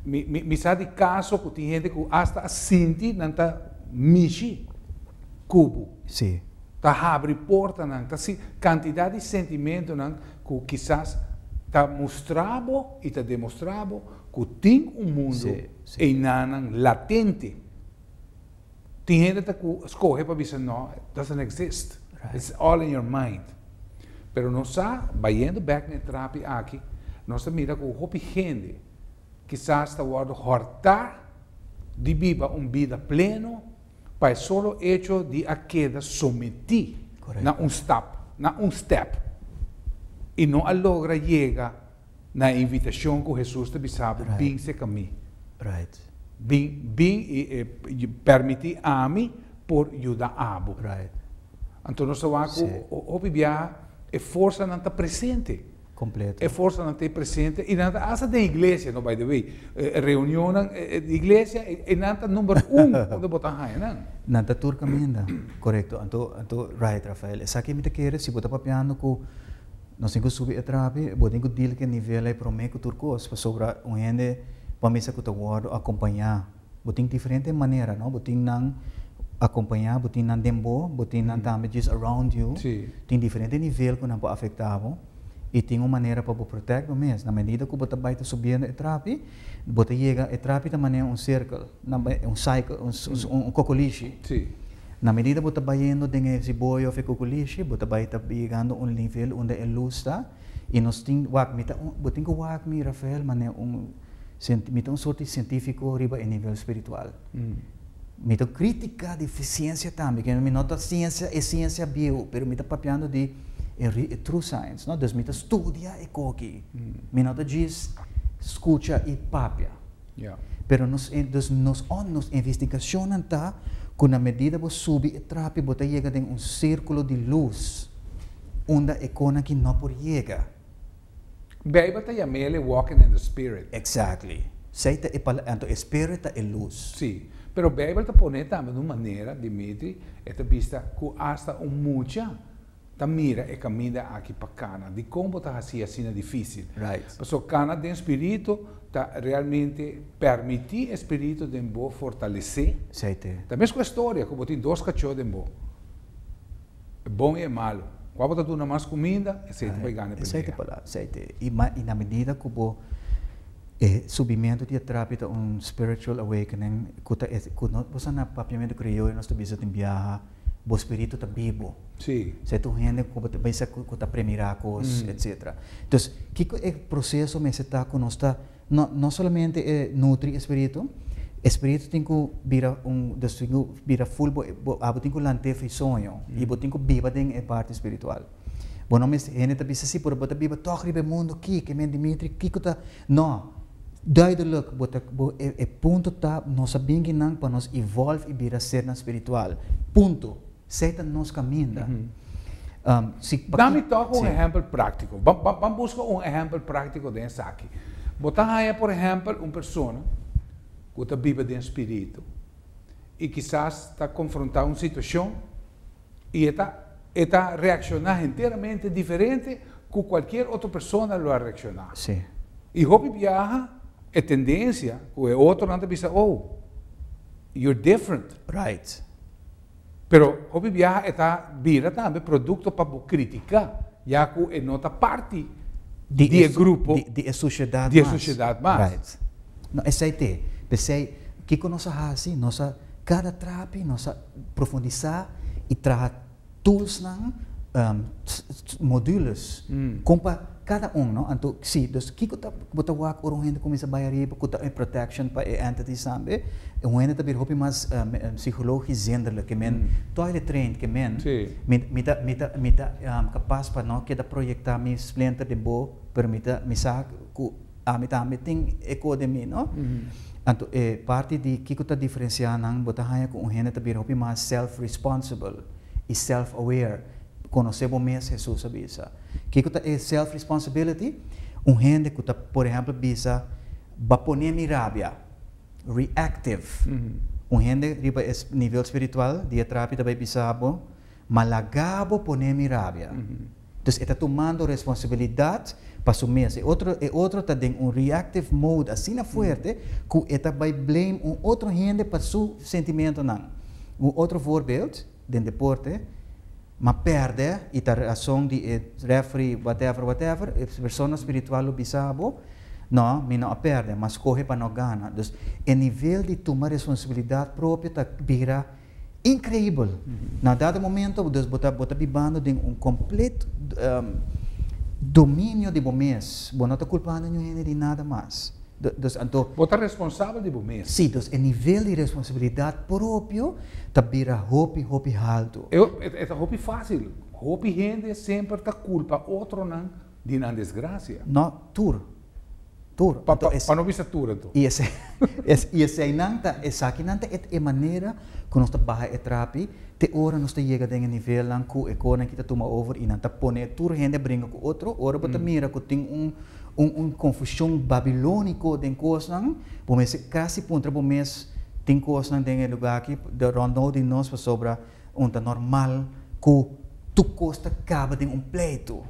mi, mi, mi sa di kaso ku tin hende ku asta a sinti nan ta mishi ku bo. Sí. Ta habri portanan, ta si, kantidat di sentimentunan. cu kisas ta mustra bo y ta demostra bo cu tin un mundo einanan latente. Tin hende ta cu scoge pa bisa no, it doesn't exist, it's all in your mind. Pero nos sa, bayendo bek na e trapi aki, nos ta mira cu hopi hende Kisas ta wòrdu hòrtá di biba un bida pleno pa e solo echo di a keda sometí na un stap, na un stèp, i no a logra yega na e invitashon ku Hesus ta bisaba, Bin seka mi. Bin, bin i pèrmití ami por yuda abo. Anto nos ta wak ku hopi biaha e forsanan ta presente. completo. E forsanan ta presente y nan ta hasta den iglesia no by the way, e reunionnan di iglesia y nan ta number un unda bo ta haña nan. Nan ta tur caminda, corecto, anto anto right Rafael, esaki mi ta kere si bo ta papiando cu nos tin cu subi e trapi bo tin cu deal cu e nivel ey prome cu tur cos pasobra un hende pa misa cu ta wordo acompaña. Bo tin diferente manera, no? Bo tin nan akompañá, bo tin nan den bo, bo tin nan tambe djes around you. Sí. Tin diferente nivel ku nan por afektá bo i tin un manera pa bo protèkt bo mes. Na medida ku bo ta bai ta subiendo e trapi, bo ta yega, e trapi ta manera un serkel, nan bai un cycle, un s-, un kokolishi. Sí. Na medida bo ta bayendo den e siboya òf e kokolishi, bo ta bai ta yegando un nivel unda e lus ta i nos tin wak mi ta un, bo tin ku wak mi, Rafael, manera un. Sint mi ta un sort di sientifiko riba e nivel spiritual. Mi ta kritika di siensia tambe, ke mi no ta siensia, e siensia bieu, pero mi ta papiando di e ri, e true science, no? Dus mi ta studia e koki. Mi no ta djis skucha i papia. Ya. Pero nos, dus nos on, nos investigashonnan ta ku na medida bo subi e trapi bo ta yega den un sirkulo di lus unda e konan ki no por yega. Bijbel ta yam'ele walking in the Spirit. Exactly. Esei ta e pala-, anto e Spirit ta e lus. Sí, pero Bijbel ta poné tambe n'un manera, Dimitri, e ta bista ku asta un mucha ta mira e kaminda aki pa kana. Dikon bo ta hasi asina difísil? Right. Pasobra kana den spiritu ta realmente permití e spiritu den bo fortalesé. Esei te. Ta mesku e storia ku bo tin dos kachó den bo. E bon i e malu. Kua bo ta duna mas kuminda, eseiti bai gana e pelea. I na medida ku bo e subimentu di e trapi ta un spiritual awakening ku ta ku nos ta na papiamentu krioyo nos ta bisa tin biaha bo spiritu ta bibu. Esei ta un hende ku bo ta bisa ku ta premirá kos etcetera. Entonces kiko e proceso mester ta ku nos ta. No, no solamente e nutri e spiritu, e spiritu tin ku bira un, dus tin ku bira ful bo, bo, abo tin ku lant'é for e soño i bo tin ku biba den e parti spiritual. Bo no mester, hende ta bisa sí, pero bo ta biba tòg riba e mundu akí, ke men Dimitri, kiko ta, no, duideluk bo ta, bo, e, e punto ta nos a bingi nan pa nos evolve i bira sernan spiritual, punto. Sey ta nos kaminda. Da mi tok un ehèmpel práktiko. Ban buska un ehèmpel práktiko den esaki. Bo ta haña por ehèmpel un persona ku ta biba den spiritu i kisas ta konfrontá un situashon i e ta e ta reakshoná henteramente diferente ku kualkier otro persona lo a reakshoná. I hopi biaha e tendensia ku e otronan ta bisa, Oh, you're different. Pero hopi biaha e ta bira tambe produkto pa bo kritika, ya ku e no ta parti di e grupo, di e sosiedat mas. No, esei t'e. P'esei, kiko nos a hasi? Nos a kada trapi, nos a profundisá i traha toolsnan, modules, kon pa. Kada un, no? Anto, sí, dus kiko ta ku bo ta wak ora un hende kuminsá bai ariba ku ta e protection pa e entities tambe? Un hende ta bira hopi mas psikologis zenderlik ke men toilet trained ke men. Mi mi ta mi ta mi ta kapas pa no keda proyektá mi splinter den bo, pero mi ta mi sa ku ami tambe tin e ko den mi, no? Anto e parti di kiko ta diferensiá nan bo ta haña ku un hende ta bira hopi mas self-responsible i self-aware, konosé bo mes, Hesus a bisa. Kiko ta e self responsibility? Un hende ku ta por ehèmpel bisa, Ba pon'é mi rabia. Reactive. Un hende riba e nivel spiritual di e trapi ta bai bisa bo, Ma lagá bo pon'é mi rabia. Entonces e ta tumando responsibilidat pa su mes. E otro e otro ta den un reactive mode asina fuerte ku e ta bai blame un otro hende pa su sentimentonan. Un otro voorbeeld. den deporte, ma perde y ta razon di e referee whatever whatever, e persona spiritual lo bisa bo, No, mi no a perde, ma scoge pa no gana. Dus e nivel di tuma responsabilidad propio ta bira increibel. Na dado momento dus bo ta bo ta bibando den un complet dominio di bo mes, bo no ta culpando ñu hende di nada mas. Dos anto. Bo ta responsabel di bo mes. Sí, dos e nivel di responsabilidat propio ta bira hopi, hopi haltu. E ta hopi fásil. Hopi hende semper ta kulpa otronan di nan desgrasia. No, tur. Tur. Pa no bisa tur anto. I esei nan ta, esaki nan ta e manera ku nos ta baha e trapi te ora nos ta yega den e nivelnan ku e konan aki ta tuma over i nan ta pone tur hende a bringa ku otro. Ora bo ta mira ku tin un. Un un confusion babilonico den cosnan, bo mester casi puntra bo mes, tin cosnan den e lugar aki rond nou di nos pasobra un ta normal cu. Tur cos ta caba den un pleito.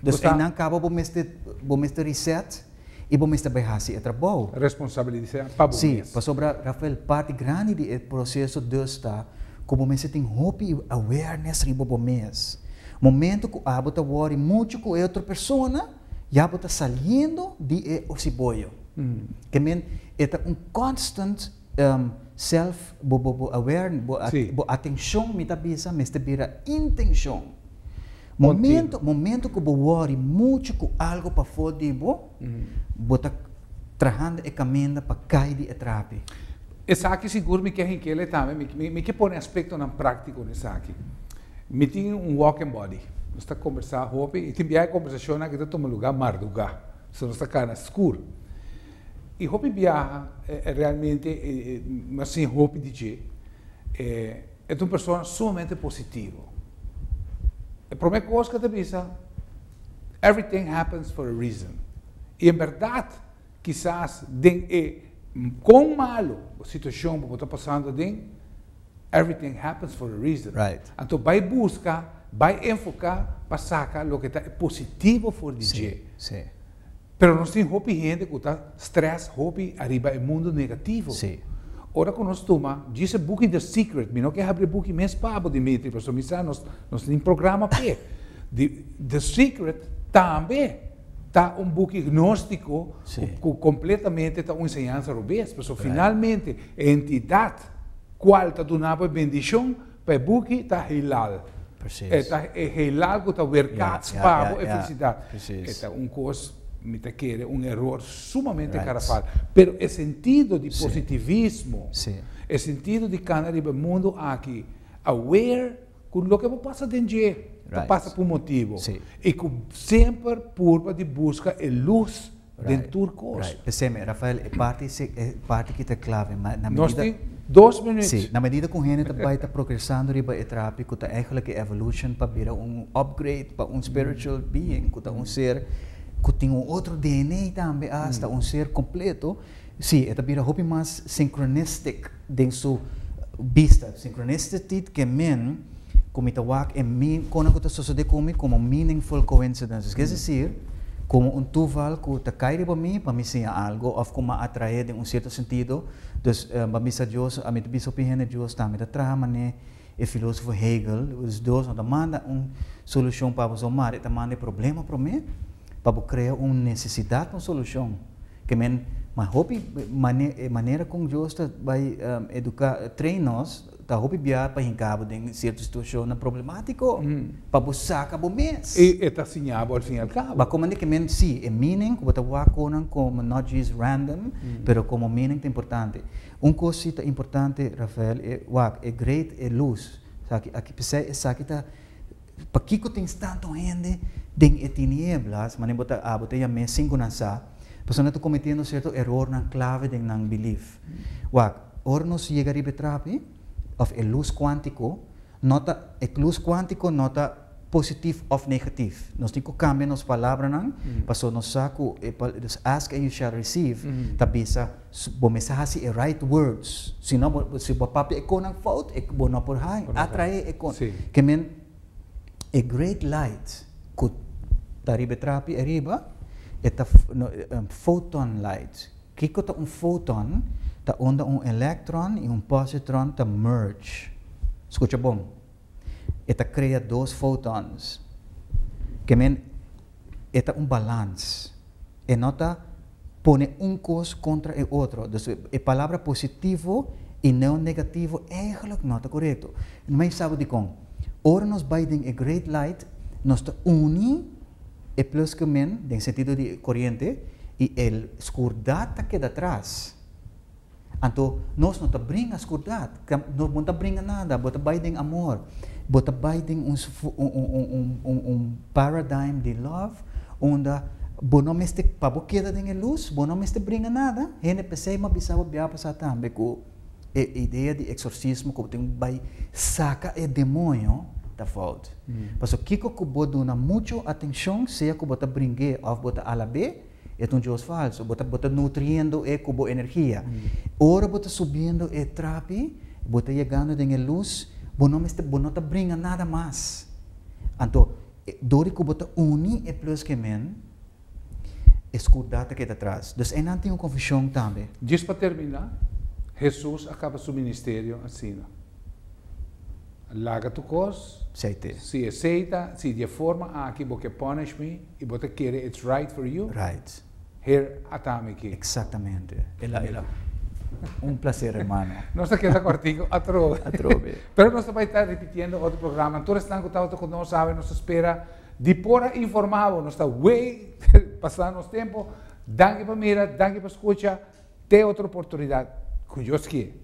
Dus eynan caba bo mester bo mester reset y bo mester bay haci e trabou. Responsabilisea pa bo mes. Si, pasobra Rafael parti grandi di e proceso dus ta cu bo mester tin hopi awareness riba bo mes. Momento cu abo ta worry mucho cu e otro persona. Ya bo ta saliendo di e osiboyo. E men, e ta un constant um self bo bo bo aware, bo si. bo atencion mi ta bisa mester bira intencion. Momento momento cu bo worry mucho cu algo pafo di bo, bo ta trahando e caminda pa cay di e trapi. Esaki sigur mi ke hinkele tambe, mi mi mi ke pone aspectonan practico na esaki. Mi tin un walk and body. Nos ta kombersá hopi i tin biaha e kombersashonnan aki ta tuma lugá mardugá, so nos ta kana skur. I hopi biaha e realmente e mi a siña hopi di dje. E ta un persona sumamente positivo. E promé kos ku e ta bisa, Everything happens for a reason. I en bèrdat Kisas den e kon malo situashon bo por ta pasando aden, everything happens for a reason. Anto bai buska, bai enfoká pa saka loke ta e positivo for di dje. Pero nos tin hopi hende ku ta strès hopi ariba e mundu negativo. Ora ku nos tuma, djis e buki The Secret, mi no ke habri e buki mes pa bo Dimitri, pasobra mi sa nos tin programa p'e. The Secret tambe. ta un buki gnóstiko ku kompletamente ta un enseñansa robes. Pasobra finalmente e entidat kual ta duna bo e bendishon pa e buki ta heelal. E ta e heelal ku ta werkaats pa bo e felisidat. E ta un kos, mi ta kere, un eror sumamente garafal. Pero e sentido di positivismo, e sentido di kana riba e mundu aki aware, cu loke bo pasa den dje ta pasa pa un motibo y cu semper purba di busca e luz den tur cos. P'esei, Rafael, e parti ese, e parti ki ta clave, ma na medida. Nos tin dos minuut. Si, na medida cu un hende ta bay ta progresando riba e trapi cu ta eigenlijk e evolution pa bira un upgrade, pa un spiritual being cu ta un ser cu tin un otro DNA tambe hasta, un ser completo, si, e ta bira hopi mas synchronistic. den su bista. Synchronicityt ke men ku mi ta wak e mi kono ku ta sosode ku mi komo meaningful coincidences. Kies desir komo un tuval ku ta kai riba mi pa mi siña algu òf ku m'a atrae den un sierto sentido. Dus, Bambisa Dios, mi ta bisa hopi hende Dios ta mi ta traha manera. E filosofo Hegel, Us dos no ta manda un solucion pa boso mari, e ta manda e problema prome pa bo crea un necesidad pa un solucion. Ke men, ma hopi e manera con Dios ta bay educa, train nos, ta hopi biaha pa hinca bo den cierto situacionnan problematico pa bo saca bo mes. Y e ta siña bo al fin y al cabo. Ba comende ke men, si, e meaning cu bo ta waconan como not just random, pero como meaning ta importante. Un cos si ta importante Rafael e wak e great e luz saki aki pesey esaki ta pakico tin stanto hende den e tinieblas manera bo ta abo ta yam'e sin cu nan sa pasobra nan ta cometiendo cierto erornan clave den nan belief wak ora nos yega riba e trapi of e luz cuantico no ta e luz cuantico no ta positif òf negatif. Nos tin ku kambia nos palabranan pasobra nos sa ku e palabranan ask and you shall receive ta bisa bo mester hasi e right words. Si no, si bo a papia e konan fout e bo no por haña, atraé e konan. Ke men e great light ku ta riba e trapi ariba e ta photon light. Kiko ta un photon? Ta unda un electron i un positron ta merge. Skucha bon. e ta krea dos fotons. Ke men e ta un balans. E no ta pone un kos kontra e otro. Dus e palabra positivo i neo negativo eigelijk no ta korekto. Mei e sabi dikon? Ora nos bai den e great light nos ta uni e plus ku min den sentido di koriente i e skurdat ta keda tras. Anto nos no ta bringa skurdat, bo no ta bringa nada, bo ta bai den amor, bo ta bai den un paradigm di love unda bo no mester, pa bo keda den e lus, bo no mester bringa nada, hende p'esei mi a bisa bo bia pasá tambe ku e idea di eksorsismo ku bo tin ku bai saka e demonio ta fout. Pasobra kiko ku bo duna muchu atenshon, sea ku bo ta bring'é òf bo ta alab'é? E ta un dios falso. Bo ta bo ta nutriendo e ku bo energia. Ora bo ta subiendo e trapi, bo ta yegando den e lus, bo no mester bo no ta bringa nada mas. Anto e dor di ku bo ta uni e plus ke men, e skurdat ta keda atras. Dus einan tin un konfushon tambe. Djis pa terminá, Hesus a kaba su ministerio asina, Laga tu kos, si e seita, si di e forma aki bo ke pònish mi, Y bo ta kere it's right for you? Right. Her a ta mi aki. Exactamente. El a, el a. Un placer, hermano. Nos ta keda cortico atrobe. Atrobe. Pero nos ta bai ta repitiendo otro programa. Tur esnan cu tabata cu nos sabe, nos ta spera di por a informa bo. Nos ta way pasa nos tempo. Danki pa mira, danki pa scucha. Te otro oportunidad, cu Dios kier.